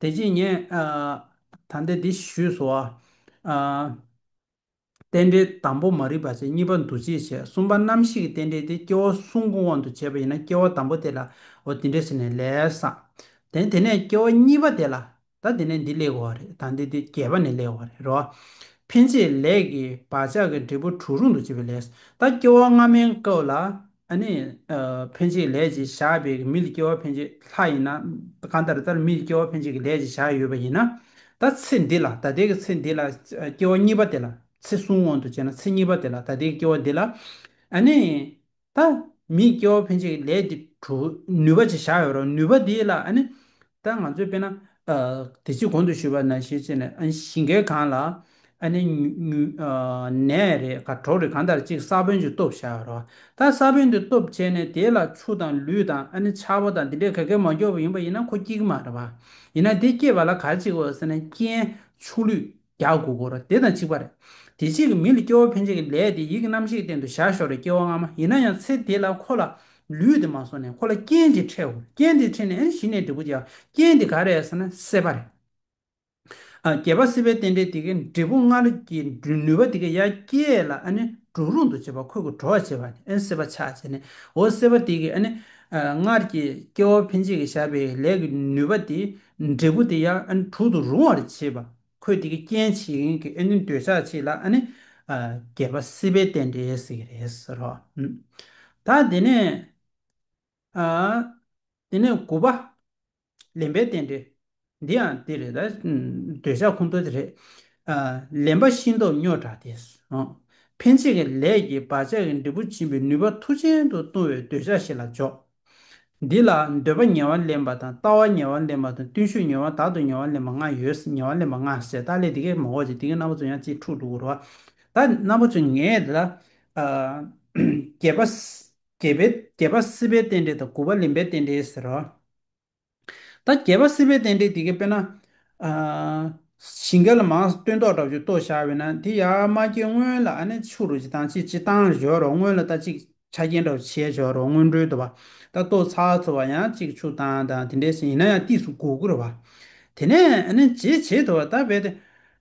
དེ་རྗེས་ངས་ད་ལྟའི་འདི་ཞུས་སོ། རྟེན་འབྲེལ་དང་པོ་མ་རིག་པ་ཆེ་གཉིས་པ་འདུ་བྱེད་ཆེ་གསུམ་པ་རྣམ་ཤེས་ཀྱི་རྟེན་འབྲེལ་དེ་སྐྱེ་བོ་གསུམ་གོང་དབང་དུ་བྱས་པ་ཡིན་ན་སྐྱེ་བོ་དང་པོ་དེ་ལའོ་འདི་འདྲས་ཟེར་ནས་ལས་བསགས། དེ་དེ་ནས་སྐྱེ་བོ་གཉིས་པ་དེ་ལ་ད་དེ་ནས་འདི་ལས་གོ་བ་རེད་ད་འདི་དེ་བརྒྱད་པ་ནས་ལས་གོ་བ་རེད་རོ། ཕན་ཆད་ལས་ཀྱི་བག་ཆགས་ཀྱི་འབྲས་བུ་དྲུག་རུང་དུ་བྱེད་པའི་ལས་སོ། ད་སྐྱེ་བོ་སྔ་མའི་སྐབས་ལ་ཨ་ནི། འཕེན་བྱེད་ལས་ཀྱི་བྱ་བས་མི་ལ་སྐྱེ་བ་འཕེན་བྱེད་ལྷ་ཡིན་ན། གང་ལྟར་ལྟར་མི་ལ་སྐྱེ་བ་འཕེན་བྱེད་ཀྱི་ལས་ཀྱི་བྱ་ཡོད་པ་ཡིན་ན། ད་ཚེ་འདི་ལ་ད་ལྟའི་གི་ཚེ་འདི་ལ་སྐྱེ་བ་གཉིས་པ་དེ་ལ་ཚེ་གསུམ་འོང་དུ་བྱས་ན་ཚེ་གཉིས་པ་དེ་ལ་ད་ལྟའི་གི་སྐྱེ་བ་འདི་ལ། ཨ་ནི། ད་མི་ལ་སྐྱེ་བ་འཕེན་བྱེད་ཀྱི་ལས་འདི་གྲུབ་ནུས་པ་ཅིག་བྱ་ཡོད་རུང་ནུས་པ་དེ་ལ་ཨ་ནི། ད་ང་ཚོས་དཔེར་ན། དེ་ཕྱིར་གོང་དུ་ཞུས་པ་ན་ཤེས་བྱེད་ནི་ཨ་ནི་ཞིང་ཁའི་གངས་ལ། ཨ་ནི། ནས་རེད་ག་གྲོག་རེད་གང་ལྟར་གཅིག་ས་བོན་གྱི་སྟོབས་བྱ་རོགས། ད་ས་བོན་དེ་སྟོབས་བྱས་ནས་དེ་ལ་ཆུ་དང་ལུད་དང་ཨ་ནི་ཆར་བ་དང་དེ་འདྲའི་ག་གེ་མོ་རྒྱོབ་པ་ཡིན་པ་ཡིན་ན་ཁོ་སྐྱིད་གི་མ་རེད་བ། ཡིན་ན་དེ་སྐྱེས་པ་ལ་ག་གཅིག་འོས་ཟེར་ན་རྐྱེན། ཆུ་ལུད། བརྒྱ་དགུ་བོར་རོ། དེ་དང་གཅིག་པར། དེ་གཅིག་གི་མིང་ལ་སྐྱེ་བོ་ཕན་ཆད་ཀྱི་ལས་དེ་ཡིད་ཀྱི་རྣམ་ཤེས་སྟེང་དུ་བཞག་ཞོར་རེ་སྐྱེ་བ་སྔ་མ་ཡིན་ན་ཡང་ཚེ་དེ་ལ་ཁོ་ལ་ལུས་དེ་མ་སོང་ནས་ཁོ་ལ་རྐྱེན་དེ་འཕྲད་འོང། རྐྱེན་དེ་འཕྲད་ནས་གཞི་ནས་འབྲས་བུ་རྒྱས། རྐྱེན་དེ་ག་རེད་ཟེར་ན་སྲེད་པ་རེད། བརྒྱད་པ་སྲིད་པའི་རྟེན་འབྲེལ་དེ་གའི་འབྲས་བུ་སྔར་གྱི་ནུས་པ་དེ་གའི་ཡ་གྱལ་ལ་འགྲོ་རུང་དུ་བྱེད་པ་ཁོལ་གྱི་གྲོགས་བྱེད་པ་ནི་སྲེད་པ་ཆགས་བྱེད་ནིའོ། སྲེད་པ་དེ་གའི་སྔར་གྱི་སྐྱེ་བོ་ཕན་ཆད་ཀྱི་བཞག་པའི་ལས་ཀྱི་ནུས་པ་དེ་འབྲས་བུ་དེ་ཡང་དྲུག་ཏུ་རུང་བར་བྱེད་པ། འཁོད་དེ་གི་རྐྱེན་བྱེད་རིན་གྱི་ཨ་ནི་འདོད་ཆགས་བྱེད་ལ་ཨ་ནི། བརྒྱད་པ་སྲིད་པའི་རྟེན་འབྲེལ་ཟེར་གྱི་རེད་ཟེར་རོ། ད་དེ་ནས། དེ་ནས་དགུ་པ། ལེན་པའི་རྟེན་འབྲེལ། འདི་ཡང་དེ་རེད་ད། འདོད་ཆགས་ཁུངས་གཏོགས་དེ་རེད། ལེན་པ་ཤིན་ཏུ་རྙོག་དྲག་དེ། འཕེན་བྱེད་ཀྱི་ལས་ཀྱིས་བག་ཆགས་ཀྱི་འབྲས་བུ་འབྱིན་པའི་ནུས་པ་མཐུ་ཅན་དུ་ལྟུང་བའི་འདོད་ཆགས་ཤིག་ལ་འཇོག། འདི་ལ་འདོད་པ་ཉེ་བར་ལེན་པ་དང་ལྟ་བ་ཉེ་བར་ལེན་པ་དང་བརྟུལ་ཞུགས་ཉེ་བ་དག་ཏུ་ཉེ་བར་ལེན་པ་ལྔ་ཡོད་ཉེ་བར་ལེན་པ་ལྔ་ཟད་བདག་ལས་འདི་སྐད་མ་འོ་ཅིག་འདི་སྐད་རྣམ་པ་ཚོ་ཡང་ཅིག་འཁྲུགས་འདུག་གོ། ད་རྣམ་པ་ཚོས་ངས་འདི་ལ། བརྒྱད་པ། བརྒྱད་པའི་བརྒྱད་པ་སྲིད་པའི་རྟེན་འབྲེལ་དང་དགུ་པ་ལེན་པའི་རྟེན་འབྲེལ་ཟེར་རོ། ད་རྒྱལ་བ་སྲིད་པའི་རྟེན་འབྲེལ་འདི་གའི་དཔེར་ན། ཞིང་གལ་མང་སྟོན་ཏོག་དྲག་ཆུ་ཏོག་ཤར་བས་ན་དེ་ཡར་མ་སྐྱེས་སྔོན་ལ་ཨ་ནེ་ཆུ་རུ་ཅི་དང་ཅི་ཅི་བཏང་བཞོ་རོགས་སྔོན་ལ་ད་ཅིག་ཆ་རྐྱེན་དྲག་བྱས་བཞོ་རོགས་སྔོན་འགྲོའི་དུ་བ་ད་ཏོག་ཚགས་ཚུ་བ་ཡང་ཅིག་ཆུ་བཏང་དང་དེ་འདྲའི་ཟིན་ཡིན་ན་ཡང་ཏིས་སུ་གུག་གུ་རུ་བ་དེ་ནས་ཨ་ནེ་ཇེ་ཇེ་དུ་བ་ད་བས་ཏེ་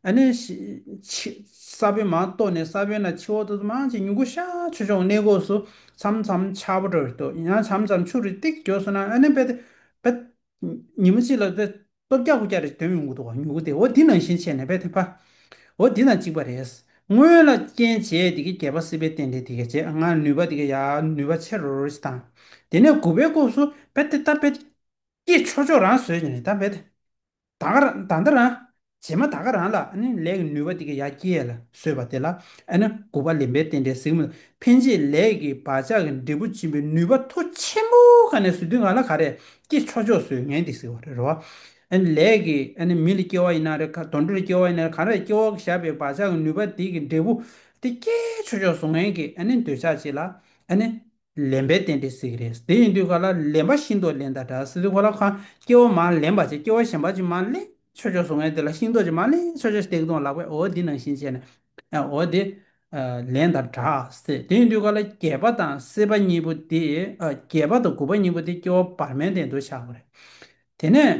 ཨ་ནི། ས་བོན་མ་གཏོགས་ནས་ས་བོན་ལ་ཕྱི་འོག་ཏུ་མང་ཅིག་མྱུ་གུ་ཤ་ཆུ་འབྱུང་གནས་སྒོ་སུ་ཚམ་ཚམ་ཆ་པོ་འགྲོ་བས་དུ་ཡང་ཆམ་ཆམ་ཆུ་རི་ཏིག་འཇོག་སོང་ན་ཨ་ནི་བེ། བེ། ཉིན་མོ་གཅིག་ལ་བེ། སྟོབས་བརྒྱ་དགུ་བརྒྱ་རེ་འདོན་མི་འགུག་འདུག་མྱུ་གུ་དེ་འོ་འདི་ནང་བཞིན་བྱས་ནས་བེ། བྷ། འོ་འདི་དང་གཅིག་པ་རེད། སྔོན་ལ་རྐྱེན་བྱས་དེ་གས་བརྒྱད་པ་སྲིད་པའི་རྟེན་འབྲེལ་དེ་གས་བྱས་ང་ནུས་པ་དེ་གས་ཡ་ནུས་པ་ཆེ་རོ་རོ་ཅིག་དང། དེ་ནས་དགུ་བའི་སྐོབས་སུ་བེ། ད་བེ། སྐྱེས་ཆོག་ཆོག་རང་བཟོས་ཀྱི་རེད་ད་བེ། ད་ག་ར་ད་ད་ར། བྱེ་མ་ད་ག་ར་ལ་ནི་ལས་ཀྱི་ནུས་པ་དེ་གི་ཡ་སྐྱེས་ལ་སོས་པ་དེ་ལ་ནི་དགུག་པ་ལེན་པའི་རྟེན་འབྲེལ་གཟིགས་མོ་ལ་ཕན་བྱེད་ལས་ཀྱི་བག་ཆགས་ཀྱི་འབྲས་བུ་འབྱིན་པའི་ནུས་པ་མཐོ་ཆེན་པོ་ག་ནས་སུ་དུས་ང་ལ་ག་རེ་ཀྱི་ཆོ་ཆོག་སོས་ངན་དེ་གཟིགས་པ་རེ་རོ། ལས་ཀྱི་མི་ལ་སྐྱེ་བ་ཡིན་ན་རེ་ག་དོན་འགྲོ་ལ་སྐྱེ་བ་ཡིན་ན་རེ་ག་ར་ལ་སྐྱེ་བ་གི་བཞག་པའི་བག་ཆགས་ཀྱི་ནུས་པ་དེ་གི་འབྲས་བུ་དེ་སྐྱེ་ཆོ་ཆོག་སུ་ངན་གྱི་འདོད་ཆགས་བྱེད་ལ་ནི། ལེན་པའི་རྟེན་འབྲེལ་ཟིག་རེད། དེ་ཡིན་དུས་ག་ལ་ལེན་པ་ཤིང་ཏོག་ལེན་ད་གྲ་ཟིག་གོ་ལ་ཁ་སྐྱེ་བོ་མ་ལེན་པ་ཅིག་སྐྱེ་བོ་གཞན་པ་ཅིག་མ་ལེན་ཆོས་ཆོས་སུ་ངས་དེ་ལ་ཤིང་ཏོག་ཅིག་མ་ལེན་ཆོས་ཆོས་སྟེགས་སྟོང་ལག་པས་འོ་འདི་ནང་བཞིན་བྱས་ནས་འོ་འདི་ལེན་ད་གྲ་ཟིག་དེ་ཡིན་དུས་ག་ལ་བརྒྱད་པ་དང་སྲིད་པ་གཉིས་པོ་དེ་བརྒྱད་པ་དང་དགུ་པ་གཉིས་པོ་དེ་སྐྱེ་བོ་བར་མའི་རྟེན་དུ་བཞག་པ་རེད། དེ་ནས།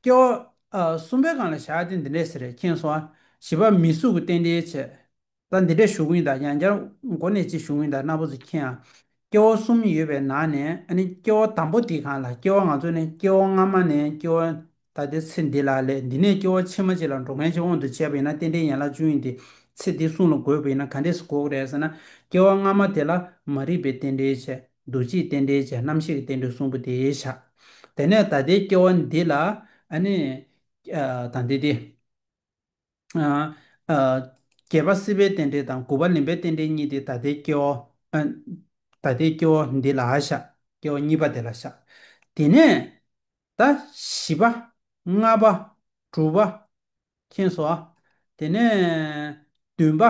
སྐྱེ་བ་གསུམ་པའི་གང་ལ་བྱ་སྟེ་འདི་འདྲས་ཟེར་རེ་མཁྱེན་གསུང། བཞི་པ་མི་གཟུགས་ཀྱི་རྟེན་འབྲེལ་བྱེད། ད་འདི་འདྲས་ཞུགས་ཡིན་དང་ཡང་བསྐྱར་མགོ་ནས་ཅི་ཞུགས་ཡིན་དང་སྣ་བུག་ཚུ་མཁྱེན། སྐྱེ་བ་གསུམ་ཡོད་པའི་ནང་ནས་ནི་སྐྱེ་བ་དང་པོ་དེ་གང་ལ་སྐྱེ་བ་ང་ཚོ་ནི་སྐྱེ་བ་སྔ་མ་ནས་སྐྱེ་བ་ད་ལྟའི་ཚེ་འདི་ལ་ལས་འདི་ནས་སྐྱེ་བ་ཕྱི་མ་གཅིག་ལ་འགྲོ་མཁན་གཅིག་འོང་དུ་བྱས་པ་ཡིན་ན་རྟེན་འབྲེལ་ཡན་ལག་བཅུ་ཡིན་ཏེ། ཚེ་འདི་བསྲུང་ལ་དགོས་པ་ཡིན་ན་ག་འདྲས་སུ་འགོག་རེད་ཟེར་ན། སྐྱེ་བ་སྔ་མ་དེ་ལ་མ་རིག་པའི་རྟེན་འབྲེལ་བྱས། འདུ་བྱེད་རྟེན་འབྲེལ་བྱས་རྣམ་ཤེས་ཀྱི་རྟེན་འབྲེལ་གསུམ་པོ་དེ་བཞག། དེ་ནས་ད་ལྟའི་སྐྱེ་བ་འདི་ལ། ཨ་ནི། དང་འདི་སྟེ། བརྒྱད་པ་སྲིད་པའི་རྟེན་འབྲེལ་དང་དགུ་བ་ལེན་པའི་རྟེན་འབྲེལ་གཉིས་ཏེ་ད་ལྟའི་སྐྱེ་བོ། ད་ལྟའི་སྐྱེ་བོ་འདི་ལ་བཞག་སྐྱེ་བོ་གཉིས་པ་དེ་ལ་བཞག། དེ་ནས་ད་བཞི་པ། ལྔ་པ། དྲུག་པ། མཁྱེན་སོ། དེ་ནས་བདུན་པ།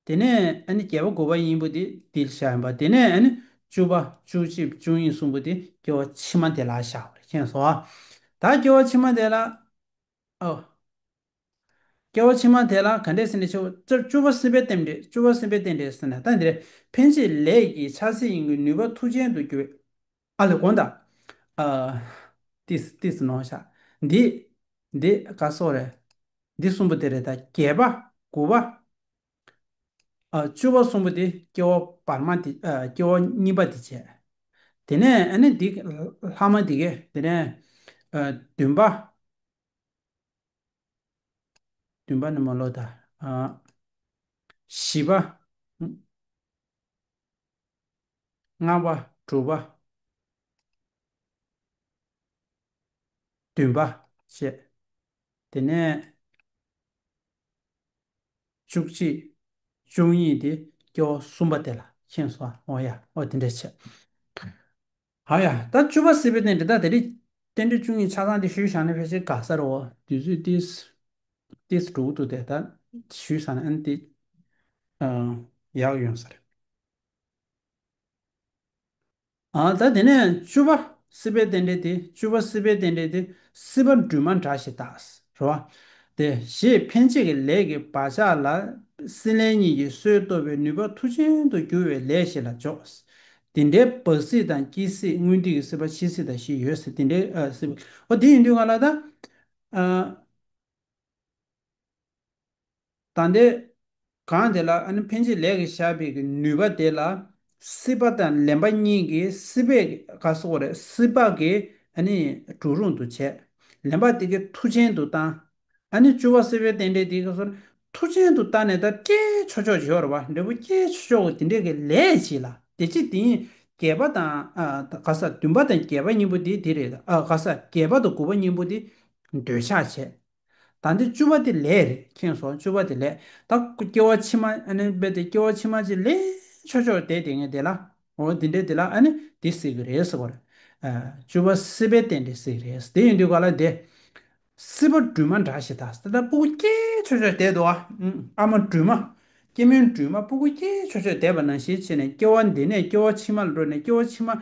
དེ་ནས་ཨ་ནི་བརྒྱད་པ་དགུ་བ་གཉིས་པོ་དེ་འདི་ལ་བཞག་ཡིན་པ་དེ་ནས་ཨ་ནི་བཅུ་བ་བཅུ་གཅིག་བཅུ་གཉིས་གསུམ་པོ་དེ་སྐྱེ་བོ་ཕྱི་མ་དེ་ལ་བཞག་པར་མཁྱེན་སོ། ད་སྐྱེ་བོ་ཕྱི་མ་དེ་ལ། ཨ། སྐྱེ་བ་ཕྱི་མ་དེ་ལ་ག་འདྲས་ཟེར་ནས་ཆུ་བོ་བཅུ་བ་སེམས་དཔའི་རྟེན་འབྲེལ་བཅུ་བ་སེམས་དཔའི་རྟེན་འབྲེལ་ཟེར་ན་ད་འདིར་འཕེན་བྱེད་ལས་ཀྱི་ཆ་ཚད་ཡིན་གྱི་ནུས་པ་མཐུ་ཅན་དུ་འགྱུར་བས། ཨ་ལས་གོང་དང། ཨ། ཏིས་ཏིས་ནོ་བྱ། འདི། འདི་ག་སོགས་རེད། འདི་གསུམ་པོ་དེ་རེད་ད་རྒྱས་པ་དགུ་བ། བཅུ་བ་གསུམ་པོ་དེ་སྐྱེ་བ་བར་མ་དེ་སྐྱེ་བ་གཉིས་པ་དེ་བྱས། དེ་ནས་ཨ་ནི་འདི་ལྷག་མ་དེ་ཀས་དེ་ནས་བདུན་པ། བདུན་པ་ནི་མ་ལོ་ད། བཞི་པ། ལྔ་བ་དྲུག་པ། བདུན་པ་བྱས། དེ་ནས། བཅུ་གཅིག། བཅུ་གཉིས་ཏེ་སྐྱེ་བོ་གསུམ་པ་དེ་ལ་ཁེངས་སོ། འོ་ཡ། འོ་དེ་འདྲའི་ཕྱིར། ཧ་ཡ། ད་བཅུ་པ་སྲིད་པའི་རྟེན་འབྲེལ་དག་དེ་རིགས། རྟེན་འབྲེལ་བཅུ་གཉིས་ཆ་ཚང་དེ་ཞུས་བཞག་ན་ཕལ་ཆེར་དགའ་ས་རེད་འོ། དུས་ཚོད་ཏིས། ཏིས་དྲུག་ཏུ་དེ་ལྟར་ཞུས་བཞག་ན་ཨན་ཏི། ཡག་ཡོང་ས་རེད། ད་དེ་ནས་བཅུ་བ་སྲིད་པའི་རྟེན་འབྲེལ་ཏེ་བཅུ་བ་སྲིད་པའི་རྟེན་འབྲེལ་ཏེ་སྲིད་པ་འདུས་མ་འདྲ་ཞེས་བཏགས། རེ་བ། ཏེ་ཞེས་འཕེན་བྱེད་ཀྱི་ལས་ཀྱི་བག་ཆགས་ལ་སྲིད་ལས་གཉིས་ཀྱི་སྲོལ་བཏོད་པའི་ནུས་པ་མཐུ་ཅན་དུ་བསྒྱུར་བའི་ལས་ཞེས་ལ་འཇོག། དེ་འདྲའི་བག་སྲིད་དང་སྐྱེ་སྲིད་སྔོན་དུས་ཀྱི་སྲིད་པ་ཕྱིས་སྲིད་དང་བཞི་ཡོད་སྲིད་དེ་འདྲའི་སྲིད་པ། འོ་དེ་ཡིན་དུས་ང་ལ་ད། དང་དེ། གང་དེ་ལ་འཕེན་བྱེད་ལས་ཀྱི་ཞགས་པའི་ནུས་པ་དེ་ལ། སྲིད་པ་དང་ལེན་པ་གཉིས་ཀྱི་སྲིད་པའི་ཁ་སོགས་རེ་སྲིད་པ་གི་གྲུ་རུང་དུ་བྱས། ལེན་པ་དེ་གི་མཐུ་ཅན་དུ་བཏང། བཅུ་བ་སྲིད་པའི་རྟེན་འབྲེལ་དེ་ག་སོགས་རེ་མཐུ་ཅན་དུ་བཏང་ནས་ད་སྐྱེས་ཆོག་ཆོག་བྱེད་བར་བ་འབྲས་བུ་སྐྱེས་ཆོག་ཆོག་གི་དེ་འདྲའི་གི་ལས་བྱས་ལ་དེ་ཅི་དེ་ཡིན་བརྒྱད་པ་དང། ག་ས་བདུན་པ་དང་བརྒྱད་པ་གཉིས་པོ་དེ་དེ་རེད། ག་ས་བརྒྱད་པ་དང་དགུ་པ་གཉིས་པོ་དེ་འདོད་ཆགས་བྱས། ད་འདི་བཅུ་བ་དེ་ལས་རེད་ཁེངས་སོང་བཅུ་བ་དེ་ལས་ད་སྐྱེ་བ་ཕྱི་མ་ཨ་ནི་དཔེ་དེ་སྐྱེ་བ་ཕྱི་མ་ཅིག་ལས་ཆོག་ཆོག་བསྡད་དེ་ངས་དེ་ལ་འོ་འདི་འདྲས་དེ་ལ་ཨ་ནི་འདི་བསྲེས་གི་རེད་ཟེར་བ་རེད། བཅུ་བ་སྲིད་པའི་རྟེན་འབྲེལ་ཟེར་གི་རེད་དེ་ཡིན་དུས་ག་ལ་འདས། སྲིད་པ་སྦྲུལ་མ་འདྲ་ཞིག་ད་ལྟ་སྤུ་གུ་སྐྱེས་ཆོག་ཆོག་བསྡད་འདུག་ཨ་མ་སྦྲུལ་མ། སྐྱེ་མོའི་སྦྲུལ་མ་སྤུ་གུ་སྐྱེས་ཆོག་ཆོག་བསྡད་པ་ན་ཞེ་ཆེ་ནས་སྐྱེ་བ་འདི་ནས་སྐྱེ་བ་ཕྱི་མ་ལ་འགྲོ་ནས་སྐྱེ་བ་ཕྱི་མ།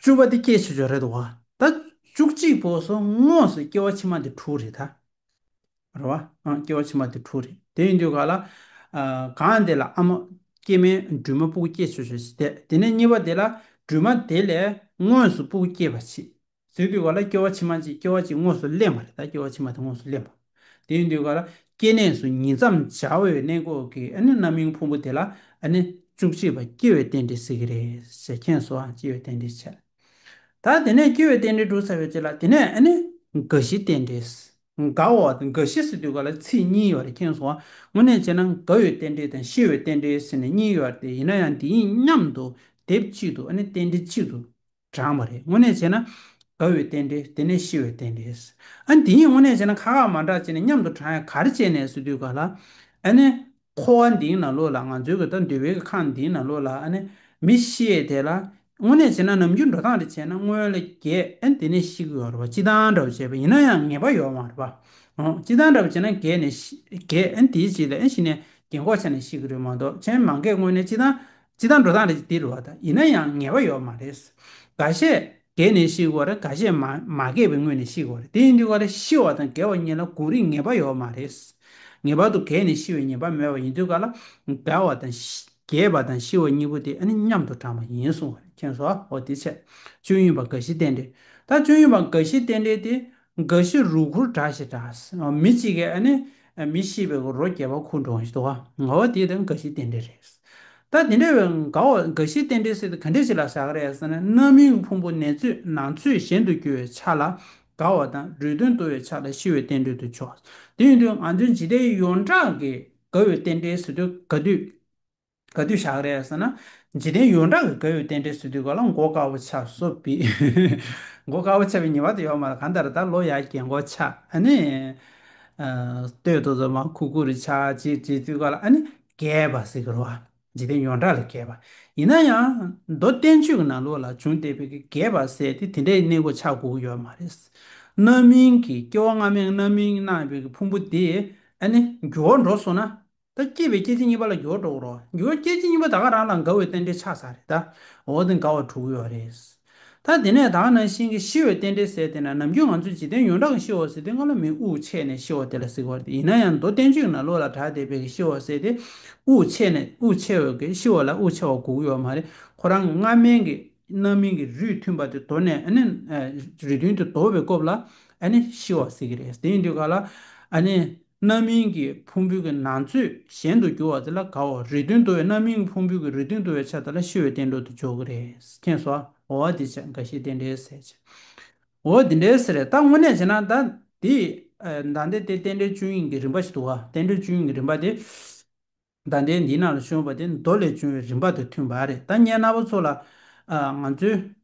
བཅུ་བ་འདི་སྐྱེ་བྱེད་ཆོས་རེད་བ་ད། བཅུ་གཅིག་པོ་སོ་དངོས་སུ་སྐྱེ་བ་ཕྱི་མ་འདི་དྲུག་རེད་ད། རེད་བ། སྐྱེ་བ་ཕྱི་མ་འདི་དྲུག་རེད། དེ་ཡིན་དུས་ག་ལ། གང་འདི་ལ་ཨ་མ། སྐྱེ་མའི་སྦྲུལ་མ་སྤུ་གུ་སྐྱེ་ཆོས་ཆོས་ཞེས་བལྟས། དེ་ནས་གཉིས་པ་འདི་ལ་སྦྲུལ་མ་དེ་ལས་དངོས་སུ་སྤུ་གུ་སྐྱེས་པ་མཆིས། ཟེར་དུས་ག་ལ་སྐྱེ་བ་ཕྱི་མ་གཅིག་སྐྱེ་བ་གཅིག་དངོས་སུ་གླེང་བ་རེད་ད་སྐྱེ་བ་ཕྱི་མ་དེ་དངོས་སུ་གླེང་བ། དེ་ཡིན་དུས་ཀ་ར་སྐྱེ་གནས་སུ་ཉིད་མཚམས་སྦྱར་བའི་གནས་འགོག་གི་ཨ་ནི་རྣམ་གཡེང་ཕུང་པོ་དེ་ལ་ཨ་ནི་བཅུ་གཅིག་པ་སྐྱེ་བའི་རྟེན་འབྲེལ་ཟེར་གྱི་རེད་ཟེར་མཁན་སོགས་སྐྱེ་བའི་རྟེན་འབྲེལ་བྱས། ད་དེ་ནས་སྐྱེ་བའི་རྟེན་འབྲེལ་འགྲོ་ཚར་བའི་རྗེས་ལ་དེ་ནས་ཨ་ནི་རྒ་བཞི་རྟེན་འབྲེལ། རྒ་འོ་རྒ་བཞི་ཟེར་དུས་ཀ་ལ་ཚིག་གཉིས་ཡོད་རེད་མཁན་སོགས་དངོས་གནས་བྱས་ན་རྒ་བའི་རྟེན་འབྲེལ་དང་ཤི་བའི་རྟེན་འབྲེལ་ཟེར་ནས་གཉིས་ཡོད་རེད་ཡིན་ན་ཡང་འདི་གཉིས་མཉམ་དུ་སྡེབ་གཅིག་ཏུ་ཨ་ནི་རྟེན་འབྲེལ་གཅིག་ཏུ་བགྲང་བ་རེད་དངོས་གནས་བྱས་ན། དགའ་བའི་རྟེན་འབྲེལ་དེ་ནས་ཤི་བའི་རྟེན་འབྲེལ། ཨ་ནི་དེ་གཉིས་དངོས་གནས་བྱས་ན་ཁ་ཁ་མ་འདྲ་བྱས་ནས་མཉམ་དུ་བགྲང་ཡ་གར་བྱས་ནས་སུ་འདུས་ག་ལ། ཨ་ནི། འཁོར་བ་འདིའི་ནང་ལོགས་ལ་ང་ཚོའི་གི་ད་འདུས་བའི་གི་ཁང་འདིའི་ནང་ལོགས་ལ་ཨ་ནི། མི་ཤི་ཡས་དེ་ལ། དངོས་གནས་བྱས་ན་ནམ་རྒྱུན་འགྲོ་སྟངས་རེ་བྱས་ན་སྔོན་ལ་རྒས་ཨ་ནི་དེ་ནས་ཤི་གི་ཡོག་རེད་པ་སྤྱི་སྟངས་འདྲ་བོ་བྱས་པ་ཡིན་ན་ཡང་ངེས་པ་ཡོག་མ་རེད་པ། འོང་སྤྱི་སྟངས་འདྲ་བོ་བྱས་ན་རྒས་ནས་ཤི་རྒས་ཨ་ནི་དེའི་རྗེས་ལ་ཨ་ནི་ཤི་ནས་རྒས་འགོག་ཆ་ནས་ཤི་གི་རེད་མ་གཏོགས་མཆན་མང་གས་དངོས་གནས་སྤྱི་སྟངས་སྤྱི་དང་འགྲོ་སྟངས་རེད་ཅེས་འདིར་རོ་དང་ཡིན་ན་ཡང་ངེས་པ་ཡོད་མ་རེད། འགའ་ཤས་རྒས་ནས་ཤི་བར་འགའ་ཤས་མ་རྒས་པའི་སྔོན་ནས་ཤི་བར་རེད་དེ་ཡིན་དུས་ཀ་ལ་ཤི་བ་དང་རྒས་བ་གཉིས་ལ་དགོངས་རིགས་ངེས་པ་ཡོད་མ་རེད། ངེས་པར་དུ་རྒས་ནས་ཤི་བའི་ཉེས་པ་མེད་པ་ཡིན་དུས་ཀ་ལ་རྒས་བ་དང་རྒས་པ་དང་ཤི་བ་གཉིས་པོ་དེ་ཨ་ནི་མཉམ་དུ་གྲངས་པ་ཡིན་གསུངས་བ་རེད་མཁྱེན་སོ་ཨོ་དེ་ཚད་སྤྱོད་ཡུན་པ་འགའ་ཤས་བསྟན་འགྲེལ་ད་སྤྱོད་ཡུན་པ་འགའ་ཤས་བསྟན་འགྲེལ་དེ་འགའ་ཞིག་རུ་ཁུར་གྲགས་ཞེས་གྲགས། མི་གཅིག་གིས་ཨ་ནི། མི་ཤེས་པའི་རོ་རྒྱས་པ་ཁུར་འགྲོ་ཞེས་དོགས། འགའ་བ་དེ་དང་འགའ་ཞིག་རྟེན་འབྲེལ་རེད། ད་དེ་འདྲ་བའི་འགའ་བ་འགའ་ཞིག་རྟེན་འབྲེལ་སྲིད་དུ་ག་འདྲས་ཞིག་ལ་ཟ་གི་རེད་ཟེར་ན་རྣམ་སྨིན་ཕུང་པོ་ནས་ཚོས་ནང་ཚོས་གཞན་དུ་རྒྱུ་བའི་ཆ་ལ་དགའ་བ་དང་རུས་ཐོན་དུ་བའི་ཆ་ལ་ཤི་བའི་རྟེན་འབྲེལ་དུ་ཆོག། དེ་ཡིན་དུས་ང་ཚོས་ཇི་ལྟའི་ཡོངས་གྲགས་ཀྱི་དགའ་བའི་རྟེན་འབྲེལ་ཟེར་དུས་དགའ་དུས། ག་དུས་བཞག་རེད་ཟེར་ན། འཇིག་རྟེན་ཡོངས་གྲགས་ཀྱི་དགའ་ཡོད་རྟེན་འབྲེལ་སྲིད་དུས་ག་ལ་མགོ་དཀར་བོ་ཆགས་བཟོ་བི། མགོ་དཀར་བོ་ཆགས་བི་ཉེ་བར་དུ་ཡོད་མ་རེད་གང་ལྟར་ད་ལོ་ཡར་རྒྱས་མགོ་ཆགས་ཨ་ནི། སྟོད་དུ་རྫོང་མ་ཁུ་ཁུ་རུ་ཆགས་ཅེས་བྲིས་དུས་ག་ལ་ཨ་ནི། རྒྱས་པ་ཟེར་གི་རོ་ཨ། འཇིག་རྟེན་ཡོངས་གྲགས་ལ་རྒྱས་པ། ཡིན་ན་ཡང། མདོ་བསྟན་བཅོས་ཀྱི་ནང་ལུགས་ལ་བྱུང་བལྟས་བི་གི་རྒྱས་པ་ཟེར་ཏེ་དེ་འདྲའི་གནས་མགོ་ཆགས་དགོས་ཀྱི་ཡོད་མ་རེད། རྣམ་སྨིན་གྱི་སྐྱེ་བ་སྔ་མའི་རྣམ་སྨིན་རྣམས་བི་གི་ཕུང་པོ་དེ་ཨ་ནི། འགྱུར་བ་འགྲོ་སོང་ན། ད་སྐྱེས་པའི་སྐྱེ་འཆི་གཉིས་པ་ལ་འགྱུར་བ་དྲུག་རོ། འགྱུར་བ་སྐྱེ་འཆི་གཉིས་པ་དག་རང་དང་འགའ་འི་རྟེན་འབྲེལ་ཆགས་ས་རེད་ད། འོ་དེ་འགའ་བ་དྲུག་འི་རེད། ད་དེ་ནས་དག་ན་ཤིང་གི་ཤི་འི་རྟེན་འབྲེལ་ཟེར་དེ་ན་ནམ་རྒྱུན་ང་ཚོས་འཇིག་རྟེན་ཡོངས་གྲགས་ཀྱི་ཤི་འོ་ཟེར་དེ་སྔ་ལོ་མིའི་དབུགས་ཆད་ནས་ཤི་འོ་དེ་ལ་ཟིག་འོ་རེད་ཡིན་ན་ཡང་མདོ་བསྟན་བཅོས་ཀྱི་ནང་ལོ་ལ་གྲགས་དེ་བས་ཀྱི་ཤི་འོ་ཟེར་དེ་དབུགས་ཆད་ནས་དབུགས་ཆད་འི་ཤི་འོ་ལ་དབུགས་ཆད་བ་དགུག་འི་འོ་མ་རེད་ཁོ་རང་གི་སྔ་མན་གྱི། རྣམ་སྨིན་གྱི་རུས་མཐུན་པ་དེ་དོར་ནས་རུས་མཐུན་དེ་དོར་བའི་སྐོབས་ལ་ཤི་བ་ཟེར་གྱི་རེད་དེ་ཡིན་དུས་ག་ལ་རྣམ་སྨིན་གྱི་ཕུང་པོའི་གི་ནང་ཚོས་གཞན་དུ་གྱུར་བ་དེ་ལ་ག་འོ་རུས་མཐུན་དོར་བའི་རྣམ་སྨིན་གྱི་ཕུང་པོའི་གི་རུས་མཐུན་དོར་བའི་ཆ་དེ་ལ་ཤི་བའི་བསྟན་དོར་དུ་འཇོག་གི་རེད་མཁྱེན་སོ་འོ་ཨ་དེ་འགའ་ཤས་དེ་འདྲའི་ཟེར་ཅི་འོ་དེ་འདྲའི་ཟེར་རེད་ད་དངོས་གནས་བྱས་ན་ད་དེ་ད་ལྟའི་དེ་རྟེན་འབྲེལ་བཅུ་ཡིན་གྱི་རིམ་པ་ཞིག་འདུག་བ་རྟེན་འབྲེལ་བཅུ་ཡིན་གྱི་རིམ་པ་དེ། བདག་འདྲའི་འདི་ན་ལ་ཤོན་པ་དེ་མདོ་ལས་བྱུང་བའི་རིམ་པ་དང་མཐུན་པ་རེད་ད་སྙན་ན་བ་ཚོ་ལ། ང་ཚོའི།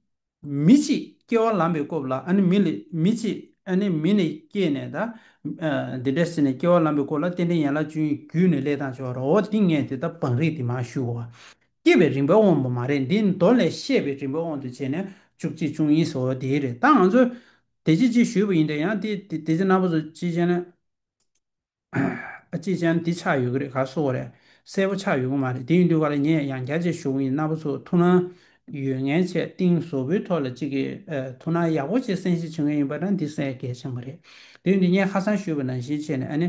མི་གཅིག་སྐྱེ་བ་ལམ་པའི་སྐོབས་ལ་ཨ་ནི་མི་ལས་མི་གཅིག་ཨ་ནི་མི་ནས་སྐྱེས་ནས་ད། འདི་འདྲ་ཟེར་ནས་སྐྱེ་བ་ལམ་པའི་སྐོར་ལ་རྟེན་འབྲེལ་ཡན་ལག་བཅུ་ཡིན་རྒྱུད་ནས་ལས་དང་བྱ་བ་རོ་འོ་དེ་ངས་དེ་ལྟར་བང་རིས་དེ་མ་ཞུ། སྐྱེས་པའི་རིམ་པའི་དབང་པོ་མ་རེད་འདི་མདོ་ལས་བཤད་པའི་རིམ་པའི་དབང་དུ་བྱས་ནས་བཅུ་གཅིག་བཅུ་གཉིས་སོ་དེའི་རེད་ད་ང་ཚོ། དེ་ཅི་ཅི་ཞུས་པ་ཡིན་དྲན་ཡང་དེ་དེ་ཚེ་ན་བ་ཚོ་ཅི་བྱས་ན། ཨ་ཅེ་ཅང་འདི་ཆགས་ཡོད་ཀྱི་རེད་ག་སོ་བ་རེད་གསལ་པོ་ཆགས་ཡོད་ཀྱི་མ་རེད་དེ་ཡིན་དུས་ཀ་ལ་ངས་ཡང་བརྒྱ་ཆའི་ཞོགས་ཡིན་ན་པ་ཚོ་ཐུགས་སྣང་ཡོད་ངའི་ཆེད་གཏིང་བཟོ་བོའི་ཐོག་ལ་ཅིག་ཐུགས་སྣང་ཡག་པོ་ཆེ་གསན་བཞེས་བྱེད་ངེས་ཡིན་པ་ན་འདི་གསལ་གལ་ཆེན་པོ་རེད་དེ་ཡིན་དུས་ངས་ཁ་སང་ཞུས་པ་ནང་བཞིན་བྱས་ནས་ཨ་ནི།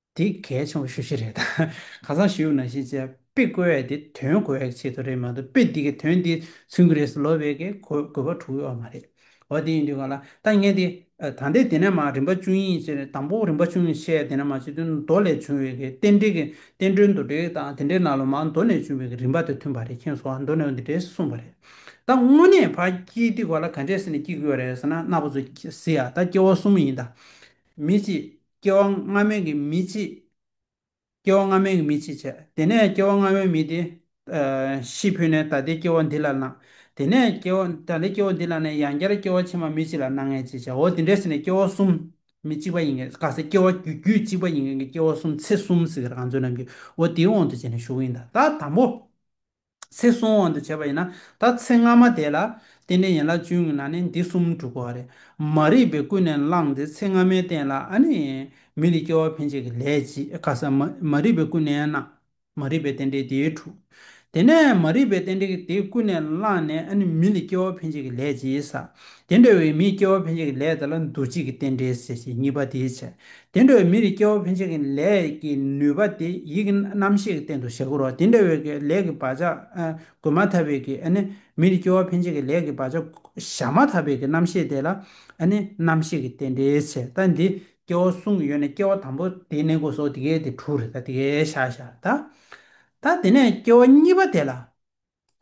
འདི་གལ་ཆེན་པོ་ཤོས་ཤིག་རེད། ཁ་སང་ཞིའུ་ན་ཤིས་ཚེ་དཔེ་བཀོལ་བས་དེ་དོན་གོ་བའི་ཆེད་དུ་རེད་མ་གཏོགས་དཔེ་འདི་གའི་དོན་དེ་མཚོན་གི་རེད་ཟེར་ལོ་བས་ཀའི་གོ་བ་གྲུག་ཡོད་བ་མ་རེད། འོ་དེ་ཡིན་དུས་ག་ལ་ད་ངས་དེ་ད་ལྟའི་དེ་ནས་མ་རིམ་པ་བཅུ་གཉིས་ཅེས་དང་པོ་རིམ་པ་བཅུ་གཉིས་བཤད་དེ་ནས་མ་སྤྱི་དོན་མདོ་ལས་བྱུང་བའི་གའི་རྟེན་འབྲེལ་གྱི་བསྟན་འགྲོའི་མདོ་འགྲེལ་དང་དེ་འདྲའི་ནང་ལ་མ་མདོ་ནས་བྱུང་བའི་གའི་རིམ་པ་དེ་མཐུན་པ་རེད་མཁྱེན་སོང་བ་མདོ་ནས་འདི་འདྲས་གསུངས་པ་རེད། ད་དངོས་གནས་ཕ་སྐྱེས་དུས་ག་ལ་ག་འདྲས་ཟེར་ནས་སྐྱེས་གི་ཡོད་རེད་ཟེར་ན་རྣ་བ་ཚོ་ཟེར་ཡ་ད་སྐྱེ་བ་གསུམ་ཡིན་ད། མི་གཅིག། སྐྱེ་བ་སྔ་མའི་གི་མི་ཅི། སྐྱེ་བ་སྔ་མའི་གི་མི་ཅི་བྱ། དེ་ནས་སྐྱེ་བ་སྔ་མའི་མི་དེ། ཤི་འཕོས་ནས་ད་ལྟའི་སྐྱེ་བ་འདི་ལ་སྣང། དེ་ནས་སྐྱེ་བ་ད་ལྟའི་སྐྱེ་བ་འདི་ལ་ནས་ཡང་བསྐྱར་སྐྱེ་བ་ཕྱི་མ་མི་ཅི་ལ་སྣང་ངེས་ཅི་བྱའོ་དེ་འདྲའི་ཟིན་ནས་སྐྱེ་བ་གསུམ། མི་གཅིག་པ་ཡིན་གྱི་ག་ས་སྐྱེ་བ་རྒྱུ་རྒྱུད་གཅིག་པ་ཡིན་གྱི་སྐྱེ་བ་གསུམ་ཚེ་གསུམ་ཟེར་གི་རང་བཟོ་རྣམས་ཀྱིའོ་དེའི་དབང་དུ་བྱས་ནས་ཞུགས་ཡིན་ད་ད་དང་པོ། ཚེ་གཟུང་དབང་དུ་བྱས་པ་ཡིན་ན་ད་ཚེ་སྔ་མ་དེ་ལ་བརྟེན་ནས་ཡན་ལག་བཅུ་ཡོད་ན་ནི་འདི་གསུམ་འགྲུབ་པ་རེད་མ་རིག་པས་ཀུན་ནས་བསླངས་ཏེ་ཚེ་སྔ་མའི་རྟེན་ལ་ཨ་ནི་མི་ལས་སྐྱེ་བ་འཕེན་བྱེད་ཀྱི་ལས་བྱེད་ཁ་སང་མ་རིག་པས་ཀུན་ནས་བསླངས་མ་རིག་པའི་རྟེན་འབྲེལ་དེ་འཁྲུགས། དེ་ནས་མ་རིག་པའི་རྟེན་འབྲེལ་དེ་ཀུན་ནས་བསླངས་ནས་ཨ་ནི་མི་ལས་སྐྱེ་བ་འཕེན་བྱེད་ཀྱི་ལས་བྱེད་ས་དེ་འདྲ་བའི་མིའི་སྐྱེ་བ་ཕན་ཆད་ཀྱི་ལས་དེ་ལ་འདུ་བྱེད་ཀྱི་རྟེན་འབྲེལ་ཟེར་ཞིང་གཉིས་པ་དེའི་ཕྱིར་དེ་འདྲ་བའི་མི་རིགས་སྐྱེ་བ་ཕན་ཆད་ཀྱི་ལས་ཀྱི་ནུས་པ་དེ་ཡིད་ཀྱི་རྣམ་ཤེས་ཀྱི་རྟེན་དུ་བཞག་གོ། དེ་འདྲ་བའི་ལས་ཀྱི་བག་ཆགས་འགོད་མ་ཐག་པའི་མི་རིགས་སྐྱེ་བ་ཕན་ཆད་ཀྱི་ལས་ཀྱི་བག་ཆགས་བཞག་མ་ཐག་པའི་རྣམ་ཤེས་དེ་ལ་རྣམ་ཤེས་ཀྱི་རྟེན་འབྲེལ་ཟེར་ད་འདི་སྐྱེ་བ་གསུམ་གྱི་ཡོད་ན་སྐྱེ་བ་དང་པོ་དེའི་གནས་སྒོ་ཟོག་དེ་གའི་དེ་དྲུག་རེད་ད་དེ་གའི་ཤ་ཤ་ད། ད་དེ་ནས་སྐྱེ་བ་གཉིས་པ་དེ་ལ།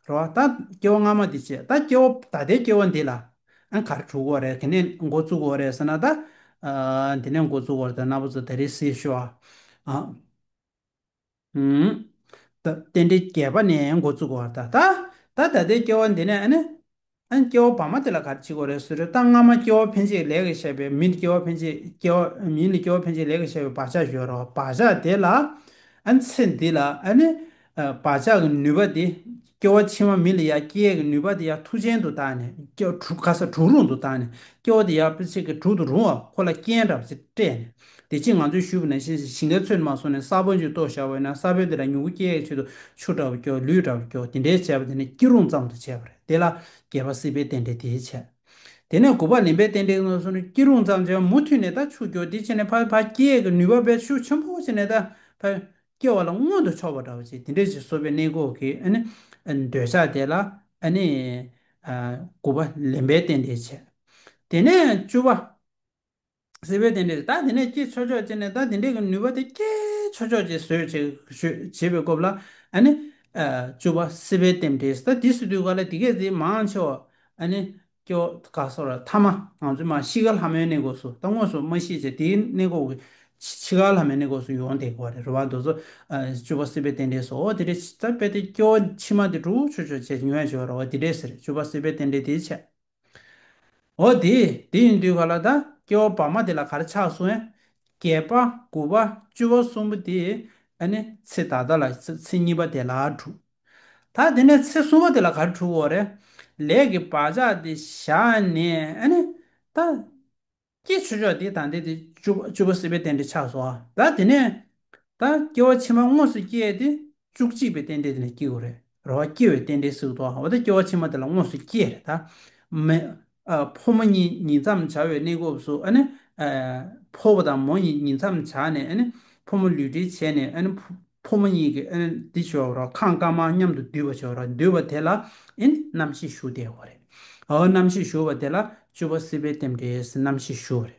རོ། ད་སྐྱེ་བ་སྔ་མ་འདི་བྱས་ད་སྐྱེ་བ་ད་ལྟའི་སྐྱེ་བ་འདི་ལ་ཨང་གར་གྲུག་གོ་རེད་དེ་ནས་མགོ་བཙུག་གོ་རེད་ཟེར་ན་ད། འདི་ནས་མགོ་བཙུག་གོ་རེད་ད་ནག་པོ་ཚོ་དེ་རིང་སྲིད་ཤོ། ད་རྟེན་འབྲེལ་བརྒྱད་པ་ནས་མགོ་བཙུག་གོ་རེད་ད། ད་ད་ལྟའི་སྐྱེ་བ་འདི་ནས་ཨ་ནི། ཨན། སྐྱེ་བོ་བར་མ་དེ་ལ་ག་རེ་བྱེད་དགོས་རེད་ཟེར་རོ་ད་སྔ་མ་སྐྱེ་བོ་ཕན་ཆད་ལས་ཀྱི་བཤད་པས་མི་འདི་སྐྱེ་བོ་ཕན་ཆད་སྐྱེ་བོ་མིའི་འདི་སྐྱེ་བོ་ཕན་ཆད་ལས་ཀྱི་བཤད་པའི་བག་ཆགས་གཞོལ་རོགས་བག་ཆགས་དེ་ལ་ཨན། ཚེ་འདི་ལ་ཨན། བག་ཆགས་ཀྱི་ནུས་པ་དེ་སྐྱེ་བ་ཕྱི་མ་མི་ལ་ཡ་སྐྱེ་ཡས་ཀྱི་ནུས་པ་དེ་ཡ་མཐུ་ཅན་དུ་བཏགས་ནས་སྐྱེ་བ་དྲུག་ག་ས་དྲུག་རུང་དུ་བཏགས་ནས་སྐྱེ་བོ་དེ་ཡ་དཔེ་ཚིག་གི་དྲུག་ཏུ་རུང་བ་ཁོ་ལ་རྐྱེན་འདྲ་བ་ཅིག་སྤྲད་ནས་དེ་ཕྱིན་ང་ཚོས་ཞུ་བ་ནི་ཞིང་ཁའི་ཚོས་ནི་མ་སོང་ནས་ས་བོན་ཅིག་གཏོར་བཞག་བས་ན་ས་བོན་དེ་དག་མྱུ་གུ་སྐྱེ་ཡས་ཆེད་དུ་ཆུ་འདྲ་བོ་སྐྱོ་ལུད་འདྲ་བོ་སྐྱོ་དེ་འདྲའི་བྱས་པ་དེ་ནི་སྐྱིད་རུང་ཙམ་དུ་བྱས་པ་རེད་དེ་ལ་རྒྱལ་བ་སྲིད་པའི་རྟེན་འབྲེལ་དེའི་ཆ། དེ་ནས་དགུ་པ་ལེན་པའི་རྟེན་འབྲེལ་ངོས་བཟུང་ནས་སྐྱིད་རུང་ཙམ་བྱས་པ་མུ་མཐུད་ནས་ད་ཆུ་སྐྱོ་དེ་ཕྱིན་ནས་ཕ་བས་ཕ་སྐྱེ་ཡས་ཀྱི་ནུས་པ་བས་ཆུ་ཆེན་པོ་ཕྱིན་ནས་ད་ཕ་བས་སྐྱེ་བ་ལ་མངོན་དུ་ཕྱོགས་པ་འདྲ་བོ་བྱས་དེ་འདྲའི་ཆེད་གསོ་བའི་གནས་འགོག་གི་འདོད་ཆགས་དེ་ལ་དགུ་པ་ལེན་པའི་རྟེན་འབྲེལ་བྱས། དེ་ནས་བཅུ་བ། ཟེར་བས་དེ་འདྲས་ད་དེ་ནས་ཀྱེ་ཆོས་ཕྱོགས་ཅན་ནས་ད་དེ་འདྲས་ཀྱི་ནུས་པ་དེ་ཀྱེ་ཆོས་ཕྱོགས་ཅན་བཟོད་བྱེད་བྱེད་པའི་སྐོབས་ལ་ཨ་ནི། བཅུ་བ་སྲིད་པའི་ལྟེམ་འདྲས་ད་དེ་སྲིད་དུས་ག་ལ་དེ་སྐད་ཅེ་མང་ཆེ་བ་ཨ་ནི། ཀྱོ་ག་སོགས་ར་ཐ་མ་ང་ཚོས་མ་ཤི་ག་ལྷ་མོའི་གནས་སྐོབས་སུ་ད་དངོས་སུ་མ་ཤི་ཆེ་དེའི་གནས་སྐོབས་ཀྱི་ཕྱི་ག་ལྷ་མོའི་གནས་སྐོབས་སུ་ཡོང་དེ་གོ་རེ་རོ་བ་འདོད་ཚོ། བཅུ་བ་སྲིད་པའི་ལྟེམ་འདྲས་སོ་དེ་འདྲས་ད་དཔེ་དེ་ཀྱོ་ཕྱི་མ་དེ་དྲུག་ཆོས་ཕྱོགས་ཅན་ཉོན་ཡང་བྱེད་པར་རོ་བ་དེ་འདྲས་ཟེར་བཅུ་བ་སྲིད་པའི་ལྟེམ་འདྲས་དེའི་ཆད། འོ་དེ་དེ་ཡིན་དུས་ག་ལ་ད་སྐྱེ་བ་བར་མ་དེ་ལ་གར་ཆགས་སོང་ཨེ། བརྒྱད་པ་དགུ་བ་བཅུ་བ་གསུམ་པོ་དེ་ཨ་ནི་ཚེ་ད་ལྟ་ལ་ཚེ་གཉིས་པ་དེ་ལ་དྲུག། ད་དེ་ནས་ཚེ་གསུམ་པ་དེ་ལ་གར་དྲུག་འོ་རེད། ལས་ཀྱི་བག་ཆགས་དེ་བཞག་ནས་ཨ་ནི་ད། ཀྱེ་ཆོས་མཆོག་འདི་དང་འདི་སྟེ། བཅུ་པོ་སྲིད་པའི་རྟེན་འབྲེལ་ཆགས་སོ། ད་དེ་ནས། ད་སྐྱེ་བ་ཕྱི་མ་དངོས་སུ་སྐྱེ་སྟེ། བཅུ་གཅིག་པའི་རྟེན་འབྲེལ་དེ་ནས་སྐྱེ་དགོས་རེད། རོ་བ་སྐྱེ་བའི་རྟེན་འབྲེལ་སྲིད་དོ། འོ་ད་སྐྱེ་བ་ཕྱི་མ་དེ་ལ་དངོས་སུ་སྐྱེ། རེད་ད། མེ། ཕོ་མོ་གཉིས་ཉིད་མཚམས་བྱ་བའི་གནས་སྐབས་སུ། ཕོ་བོ་དང་མོ་གཉིས་ཉིད་མཚམས་བྱ་ནས། ཕོ་མོ་ལུས་འབྲེལ་བྱས་ནས། ཕོ་མོ་གཉིས་ཀྱིས་ཨིན་འདི་བྱོ་རོག་ཁང་དཀར་མང་མཉམ་དུ་འདུས་པ་བྱོ་རོག་འདུས་པ་དེ་ལ་ཨིན་རྣམ་ཤེས་ཞུ་བདེ་བ་རེད། ཨོ་རྣམ་ཤེས་ཞུ་བ་དེ་ལ་བཅུ་བ་སྲིད་པའི་རྟེན་འབྲེལ་རྣམ་ཤེས་ཞུ་བ་རེད།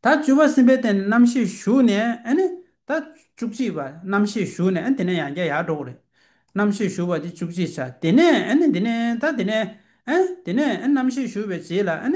ད་བཅུ་བ་སྲིད་པའི་རྟེན་འབྲེལ་རྣམ་ཤེས་ཞུ་ནས་ཨིན་ད་བཅུ་གཅིག་པ་རྣམ་ཤེས་ཞུ་ནས་ཨིན་དེ་ནས་ཡང་བརྒྱ་ཡར་འགྲོ་གི་རེད། རྣམ་ཤེས་ཞུ་བ་དེ་བཅུ་གཅིག་ཆ་དེ་ནས་ཨིན་འདི་ནས་ད་དེ་ནས་ཨིན་དེ་ནས་ཨིན་རྣམ་ཤེས་ཞུ་བའི་རྗེས་ལ་ཨིན་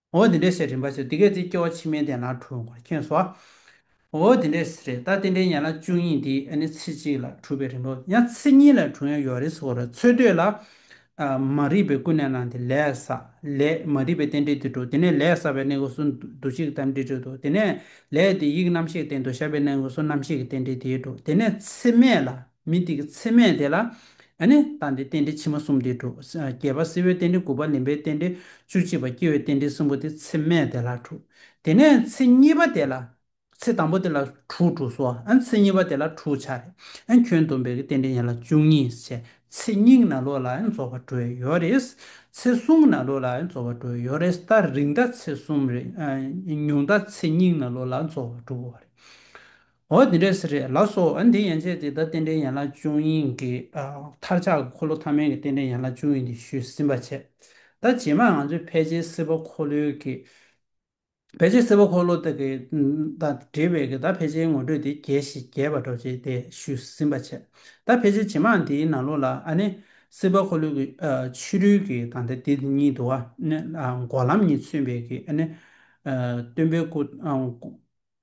འོ་དེ་འདྲས་ཟེར་རིན་པ་ཆེ་འདི་སྐད་ཅེས་སྐྱེ་བ་ཕྱི་མའི་གདན་ལ་གྲུབ་བར་མཁྱེན་སོ། འོ་དེ་འདྲས་ཟེར་རེད་ད་དེ་འདྲའི་ཡན་ལག་བཅུ་གཉིས་འདི་ཨ་ནི་ཚེ་གཅིག་ལ་གྲུབ་པའི་རིན་པའོ་ཡང་ཚེ་གཉིས་ལ་གྲུབ་ཡང་ཡོད་རེད་ཟེར་བ་རེད་ཚོད་ལྟོས་ལ། མ་རིག་པའི་ཀུན་ནས་སྣང་སྟེ་ལས་བསགས་ལས་མ་རིག་པའི་རྟེན་འབྲེལ་དེ་གྲུབ་དེ་ནས་ལས་བསགས་པའི་གནས་ཀུན་སུ་འདུ་བྱེད་ཀྱི་རྟེན་འབྲེལ་གྲུབ་དོ་དེ་ནས་ལས་དེ་ཡིག་རྣམ་ཤེས་རྟེན་དུ་བཞག་པའི་གནས་ཀུན་སུ་རྣམ་ཤེས་ཀྱི་རྟེན་འབྲེལ་དེ་གྲུབ་དེ་ནས་ཚེ་སྨད་ལ། མི་དེ་གི་ཚེ་སྨྲས་དེ་ལ། ཨ་ནི། ད་འདི་རྟེན་འབྲེལ་ཕྱི་མ་གསུམ་དེ་དྲུག། བརྒྱད་པ་སྲིད་བོའི་རྟེན་འབྲེལ་དགུ་པ་ལིམ་པའི་རྟེན་འབྲེལ་བཅུ་གཅིག་པ་སྐྱེ་བོའི་རྟེན་འབྲེལ་གསུམ་པོ་དེ་ཚེ་སྨྲས་དེ་ལ་དྲུག། དེ་ནས་ཚེ་གཉིས་པ་དེ་ལ། ཚེ་དང་པོ་དེ་ལ་དྲུག་དྲུག་སོ། ཨན་ཚེ་གཉིས་པ་དེ་ལ་དྲུག་ཆ་རེ། ཨན་ཁྱོད་འདོམས་པའི་གི་རྟེན་འབྲེལ་ཡན་ལ་བཅུ་གཉིས་ཆེ། ཚེ་སྙིང་ན་ལོ་ལ་ཨན་རྫོགས་པ་དྲུག་ཡོད་རེད། ཚེ་གསུམ་ན་ལོ་ལ་ཨན་རྫོགས་པ་དྲུག་ཡོད་རེད་ད་རིང་ད་ཚེ་གསུམ་རེད། ཉུང་ད་ཚེ་སྙིང་ན་ལོ་ལ་རྫོགས་པ་དྲུག་རེད། འོ་དེ་འདྲས་སེ་རེད་ལགས་སོ་འོན་དེ་ཡན་ཆད་དེ་ད་རྟེན་འབྲེལ་ཡན་ལག་ཅུང་ཡིན་གི་མཐར་ཆགས་ཀྱི་འཁོར་ལོ་ཐ་མལ་གྱི་རྟེན་འབྲེལ་ཡན་ལག་ཅུང་ཡིན་དེ་ཞུས་ཟིན་པ་བྱས་ད་རྗེས་མར་ང་ཚོས་ཕལ་ཆེར་སེར་པོ་འཁོར་ལོའི་གི་ཕལ་ཆེར་སེར་པོ་འཁོར་ལོ་དག་གི་དང་འབྲེལ་བའི་གི་ད་ཕལ་ཆེར་ངོ་སྤྲོད་དེ་རྒྱས་ཤིག་རྒྱས་པར་འགྲོ་བྱས་དེ་ཞུས་ཟིན་པ་བྱས་ད་ཕལ་ཆེར་རྗེས་མར་དེའི་ནང་ལོགས་ལ་ཨ་ནི་སེར་པོ་འཁོར་ལོའི་གི་ཕྱི་རོལ་གི་དང་དེ་དེ་གཉིས་དུ་ཨ་ནི་འགོག་ལམ་གཉིས་མཚོན་པའི་གི་ཨ་ནི་སྟོན་པའི་སྐུ